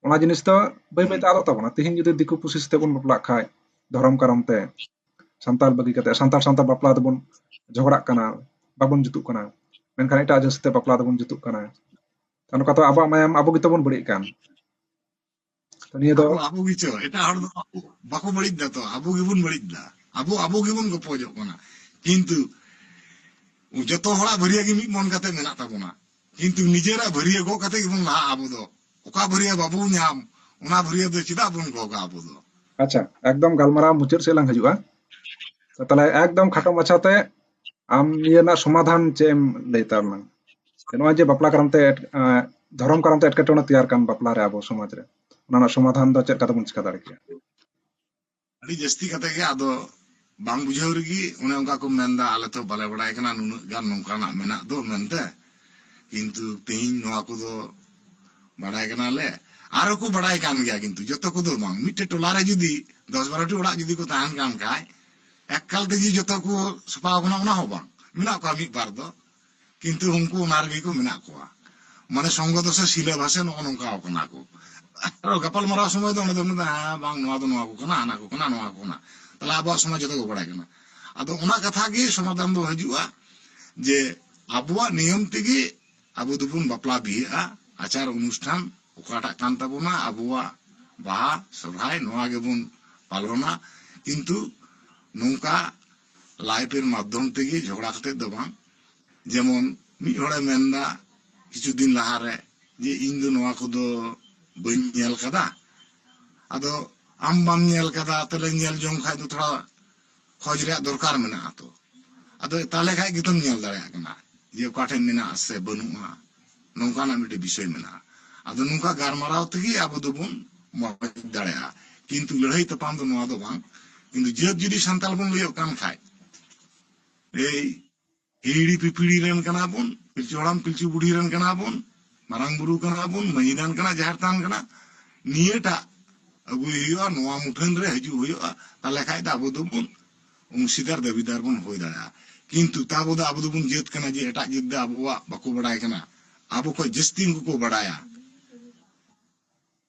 ᱚᱱᱟ ᱡᱤᱱᱤᱥ ᱫᱚ ᱵᱟᱹᱭ ᱵᱟᱹᱭᱛᱮ ᱟᱫᱚᱜ ᱛᱟᱵᱚᱱᱟ ᱛᱮᱦᱮᱧ ᱡᱩᱫᱤ ᱫᱤᱠᱩ ᱯᱩᱥᱤ ᱥᱟᱛᱮ ᱵᱚᱱ ᱵᱟᱯᱞᱟᱜ ᱠᱷᱟᱡ ᱫᱷᱚᱨᱚᱢ ᱠᱟᱨᱚᱱ ᱛᱮ ᱥᱟᱱᱛᱟᱲ ᱵᱟᱹᱜᱤ ᱠᱟᱛᱮ ᱥᱟᱱᱛᱟᱲ ᱥᱟᱶᱛᱮ ᱵᱟᱯᱞᱟ ᱫᱚᱵᱚᱱ ᱡᱷᱚᱜᱽᱲᱟᱜ ᱠᱟᱱᱟ ᱵᱟᱵᱚᱱ ᱡᱩᱛᱩᱜ ᱠᱟᱱᱟ ᱢᱮᱱᱠᱷᱟᱱ ᱮᱴᱟᱜ ᱡᱟᱹᱛ ᱥᱟᱛᱮ ᱵᱟᱯᱞᱟ ᱫᱚᱵᱚᱱ ᱡᱩᱛᱩᱜ ᱠᱟᱱᱟ ᱱᱚᱝᱠᱟ ᱛᱚ ᱟᱵᱚᱣᱟᱜ ᱢᱟᱭᱟᱢ ᱟᱵᱚ ᱜᱮᱛᱚ ᱵᱚᱱ ᱵᱟᱹᱲᱤᱡ ᱠᱟᱱ ᱛᱚ ᱱᱤᱭᱟᱹ ᱫᱚ ᱟᱵᱚ ᱜᱮᱪᱚ ᱮᱴᱟᱜ ᱦᱚᱲ ᱫᱚ ᱵᱟᱠᱚ ᱵᱟᱹᱲᱤᱡ ᱫᱟ ᱛᱚ ᱟᱵᱚ ᱜᱮᱵᱚᱱ ᱵᱟᱹᱲᱤᱡ ᱫᱟ ᱟᱵᱚ ᱟᱵᱚ ᱜᱮᱵᱚᱱ ᱜᱚᱯᱚᱡᱚᱜ ᱠᱟᱱᱟ ᱠᱤᱱᱛᱩ ᱡᱚᱛᱚ ᱦᱚᱲᱟᱜ ᱵᱷᱟᱹᱨᱤᱭᱟᱹ ᱜᱮ ᱢᱤᱫ ᱢᱚᱱ ᱠᱟᱛᱮ ᱢᱮᱱᱟᱜ ᱛᱟᱵᱚᱱᱟ ᱠᱤᱱᱛᱩ ᱱᱤᱡᱮᱨᱟᱜ ᱵᱷᱟᱹᱨᱤᱭᱟᱹ ᱜᱚᱜ ᱠᱟᱛᱮ ᱜᱮᱵᱚᱱ ᱞᱟᱦᱟᱜᱼᱟ ᱟᱵᱚ ᱫᱚ ᱚᱠᱟ ᱵᱷᱟᱹᱨᱤᱭᱟᱹ ᱵᱟᱵᱚ ᱧᱟᱢ ᱚᱱᱟ ᱵᱷᱟᱹᱨᱤᱭᱟᱹ ᱫᱚ ᱪᱮᱫᱟᱜ ᱵᱚᱱ ᱜᱚᱜᱟ ᱟᱵᱚ ᱫᱚ ᱟᱪᱪᱷᱟ ᱮᱠᱫᱚᱢ ᱜᱟᱞᱢᱟᱨᱟᱣ ᱢᱩᱪᱟᱹᱫ ᱥᱮᱫ ᱞᱟᱝ ᱦᱤᱡᱩᱜᱼᱟ ᱛᱟᱦᱞᱮ ᱮᱠᱫᱚᱢ ᱠᱷᱟᱴᱚ ᱢᱟᱪᱷᱟᱛᱮ ᱟᱢ ᱱᱤᱭᱟᱹ ᱨᱮᱱᱟᱜ ᱥᱚᱢᱟᱫᱷᱟᱱ ᱪᱮᱫ ᱮᱢ ᱞᱟᱹᱭ ᱛᱟᱵᱚᱱᱟ ᱱᱚᱜᱼᱚᱭ ᱡᱮ ᱵᱟᱯᱞᱟ ᱠᱟᱨᱚᱱ ᱛᱮ ᱫᱷᱚᱨᱚᱢ ᱠᱟᱨᱚᱱ ᱛᱮ ᱮᱴᱠᱮᱴᱚᱬᱮ ᱛᱮᱭᱟᱨ ᱠᱟᱱ ᱵᱟᱯᱞᱟ ᱨᱮ ᱟᱵᱚ ᱥᱚᱢᱟᱡᱽ ᱨᱮ ᱚᱱᱟ ᱨᱮᱱᱟᱜ ᱥᱚᱢᱟᱫᱷᱟᱱ ᱫᱚ ᱪᱮᱫ ᱞᱮᱠᱟ ᱛᱮᱵᱚᱱ ᱪᱤᱠᱟ ᱫᱟᱲᱮ ᱠᱮᱭᱟ ᱟᱹᱰᱤ ᱡᱟᱹᱥᱛᱤ ᱠᱟᱛᱮ ᱜᱮ ᱟᱫᱚ ᱵᱟᱝ ᱵᱩᱡᱷᱟᱹᱣ ᱨᱮᱜᱮ ᱚᱱᱮ ᱚᱱᱠᱟ ᱠᱚ ᱢᱮᱱᱫᱟ ᱟᱞᱮ ᱛᱚ ᱵᱟᱞᱮ ᱵᱟᱲᱟᱭ ᱠᱟᱱᱟ ᱱᱩᱱᱟᱹᱜ ᱜᱟᱱ ᱱᱚᱝᱠᱟᱱᱟᱜ ᱢᱮᱱᱟᱜ ᱫᱚ ᱢᱮᱱᱛᱮ ᱠᱤᱱᱛᱩ ᱛᱮᱦᱮᱧ ᱱᱚᱣᱟ ᱠᱚᱫᱚ ᱵᱟᱲᱟᱭ ᱠᱟᱱᱟᱞᱮ ᱟᱨᱚ ᱠᱚ ᱵᱟᱲᱟᱭ ᱠᱟᱱ ᱜᱮᱭᱟ ᱠᱤᱱᱛᱩ ᱡᱚᱛᱚ ᱠᱚᱫᱚ ᱵᱟᱝ ᱢᱤᱫᱴᱮᱡ ᱴᱚᱞᱟᱨᱮ ᱡᱩᱫᱤ ᱫᱚᱥ ᱵᱟᱨᱚᱴᱤ ᱚᱲᱟᱜ ᱡᱩᱫᱤ ᱠᱚ ᱛᱟᱦᱮᱱ ᱠᱟᱱ ᱠᱷᱟᱡ ᱮᱠᱟᱞ ᱛᱮᱜᱮ ᱡᱚᱛᱚ ᱠᱚ ᱥᱟᱯᱷᱟ ᱟᱠᱟᱱᱟ ᱚᱱᱟ ᱦᱚᱸ ᱵᱟᱝ ᱢᱮᱱᱟᱜ ᱠᱚᱣᱟ ᱢᱤᱫ ᱵᱟᱨ ᱫᱚ ᱠᱤᱱᱛᱩ ᱩᱱᱠᱩ ᱚᱱᱟ ᱨᱮᱜᱮ ᱠᱚ ᱢᱮᱱᱟᱜ ᱠᱚᱣᱟ ᱢᱟᱱᱮ ᱥᱚᱝᱜᱚ ᱫᱚᱥᱮ ᱥᱤᱞᱟᱹ ᱵᱷᱟᱥᱮ ᱱᱚᱜᱼᱚ ᱱᱚᱝᱠᱟ ᱟᱠᱟᱱᱟ ᱠᱚ ᱟᱨᱚ ᱜᱟᱯᱟᱞ ᱢᱟᱨᱟᱣ ᱥᱚᱢᱚᱭ ᱫᱚ ᱚᱸᱰᱮ ᱫᱚ ᱢᱮᱱᱫᱟ ᱦᱮᱸ ᱵᱟᱝ ᱱᱚᱣᱟ ᱫᱚ ᱱᱚᱣᱟ ᱠᱚ ᱠᱟᱱᱟ ᱦᱟᱱᱟ ᱠᱚ ᱠᱟᱱᱟ ᱱᱚᱣᱟ ᱠᱚ ᱠᱟᱱᱟ ᱛᱟᱦᱞᱮ ᱟᱵᱚᱣᱟᱜ ᱥᱚᱢᱟᱡᱽ ᱡᱚᱛᱚ ᱠᱚ ᱵᱟᱲᱟᱭ ᱠᱟᱱᱟ ᱟᱫᱚ ᱚᱱᱟ ᱠᱟᱛᱷᱟ ᱜᱮ ᱥᱚᱢᱟᱫᱷᱟᱱ ᱫᱚ ᱦᱤᱡᱩᱜᱼᱟ ᱡᱮ ᱟᱵᱚᱣᱟᱜ ᱱᱤᱭᱚᱢ ᱛᱮᱜᱮ ᱟᱵᱚ ᱫᱚᱵᱚᱱ ᱵᱟᱯᱞᱟ ᱵᱤᱦᱟᱹᱜᱼᱟ ᱟᱪᱟᱨ ᱚᱱᱩᱥᱴᱷᱟᱱ ᱚᱠᱟᱴᱟᱜ ᱠᱟᱱ ᱛᱟᱵᱚᱱᱟ ᱟᱵᱚᱣᱟᱜ ᱵᱟᱦᱟ ᱥᱚᱨᱦᱟᱭ ᱱᱚᱣᱟ ᱜᱮᱵᱚᱱ ᱯᱟᱞᱚᱱᱟ ᱠᱤᱱᱛᱩ ᱱᱚᱝᱠᱟ ᱞᱟᱭᱤᱯᱷ ᱮᱨ ᱢᱟᱫᱽᱫᱷᱚᱢ ᱛᱮᱜᱮ ᱡᱷᱚᱜᱽᱲᱟ ᱠᱟᱛᱮ ᱫᱚ ᱵᱟᱝ ᱡᱮᱢᱚᱱ ᱢᱤᱫ ᱦᱚᱲᱮ ᱢᱮᱱ ᱮᱫᱟ ᱠᱤᱪᱷᱩ ᱫᱤᱱ ᱞᱟᱦᱟ ᱨᱮ ᱡᱮ ᱤᱧ ᱫᱚ ᱱᱚᱣᱟ ᱠᱚᱫᱚ ᱵᱟᱹᱧ ᱧᱮᱞ ᱟᱠᱟᱫᱟ ᱟᱫᱚ ᱟᱢ ᱵᱟᱢ ᱧᱮᱞ ᱟᱠᱟᱫᱟ ᱛᱟᱦᱞᱮ ᱧᱮᱞ ᱡᱚᱝ ᱠᱷᱟᱱ ᱫᱚ ᱛᱷᱚᱲᱟ ᱠᱷᱚᱡ ᱨᱮᱭᱟᱜ ᱫᱚᱨᱠᱟᱨ ᱢᱮᱱᱟᱜᱼᱟ ᱛᱚ ᱟᱫᱚ ᱛᱟᱦᱚᱞᱮ ᱠᱷᱟᱡ ᱜᱮᱛᱚᱢ ᱧᱮᱞ ᱫᱟᱲᱮᱭᱟᱜ ᱠᱟᱱᱟ ᱡᱮ ᱚᱠᱟ ᱴᱷᱮᱡ ᱢᱮᱱᱟᱜᱼᱟ ᱥᱮ ᱵᱟᱹᱱᱩᱜᱼᱟ ᱱᱚᱝᱠᱟᱱᱟᱜ ᱢᱤᱫᱴᱮᱡ ᱵᱤᱥᱚᱭ ᱢᱮᱱᱟᱜᱼᱟ ᱟᱫᱚ ᱱᱚᱝᱠᱟ ᱜᱟᱨᱢᱟᱨᱟᱣ ᱛᱮᱜᱮ ᱟᱵᱚ ᱫᱚᱵᱚᱱ ᱢᱚᱡᱽ ᱫᱟᱲᱮᱭᱟᱜᱼᱟ ᱠᱤᱱᱛᱩ ᱞᱟᱹᱲᱦᱟᱹᱭ ᱛᱟᱯᱟᱢ ᱫᱚ ᱱᱚᱣᱟ ᱫᱚ ᱵᱟᱝ ᱠᱤᱱᱛᱩ ᱡᱟᱹᱛ ᱡᱩᱫᱤ ᱥᱟᱱᱛᱟᱲ ᱵᱚᱱ ᱞᱟᱹᱭᱚᱜ ᱠᱟᱱ ᱠᱷᱟᱡ ᱮᱭ ᱦᱤᱦᱤᱲᱤ ᱯᱤᱯᱤᱲᱤ ᱨᱮᱱ ᱠᱟᱱᱟ ᱵᱚᱱ ᱯᱤᱞᱪᱩ ᱦᱟᱲᱟᱢ ᱯᱤᱞᱪᱩ ᱵᱩᱰᱷᱤ ᱨᱮᱱ ᱠᱟᱱᱟ ᱵᱚᱱ ᱢᱟᱨᱟᱝ ᱵᱩᱨᱩ ᱠᱟᱱᱟ ᱵᱚᱱ ᱢᱟᱹᱭᱤ ᱛᱷᱟᱱ ᱠᱟᱱᱟ ᱡᱟᱦᱮᱨ ᱛᱷᱟᱱ ᱠᱟᱱᱟ ᱱᱤᱭᱟᱹᱴᱟᱜ ᱟᱹᱜᱩᱭ ᱦᱩᱭᱩᱜᱼᱟ ᱱᱚᱣᱟ ᱢᱩᱴᱷᱟᱹᱱ ᱨᱮ ᱦᱤᱡᱩᱜ ᱦᱩᱭᱩᱜᱼᱟ ᱛᱟᱦᱞᱮ ᱠᱷᱟᱱ ᱫᱚ ᱟᱵᱚ ᱫᱚᱵᱚᱱ ᱚᱝᱥᱤᱫᱟᱨ ᱫᱟᱹᱵᱤᱫᱟᱨ ᱵᱚᱱ ᱦᱩᱭ ᱫᱟᱲᱮᱭᱟᱜᱼᱟ ᱠᱤᱱᱛᱩ ᱛᱟᱵᱚ ᱫᱚ ᱟᱵᱚ ᱫᱚᱵᱚᱱ ᱡᱟᱹᱛ ᱠᱟᱱᱟ ᱡᱮ ᱮᱴᱟᱜ ᱡᱟᱹᱛ ᱫᱚ ᱟᱵᱚᱣᱟᱜ ᱵᱟᱠᱚ ᱵᱟᱰᱟᱭ ᱠᱟᱱᱟ ᱟᱵᱚ ᱠᱷᱚᱱ ᱡᱟᱹᱥᱛᱤ ᱩᱱᱠᱩ ᱠᱚ ᱵᱟᱰᱟᱭᱟ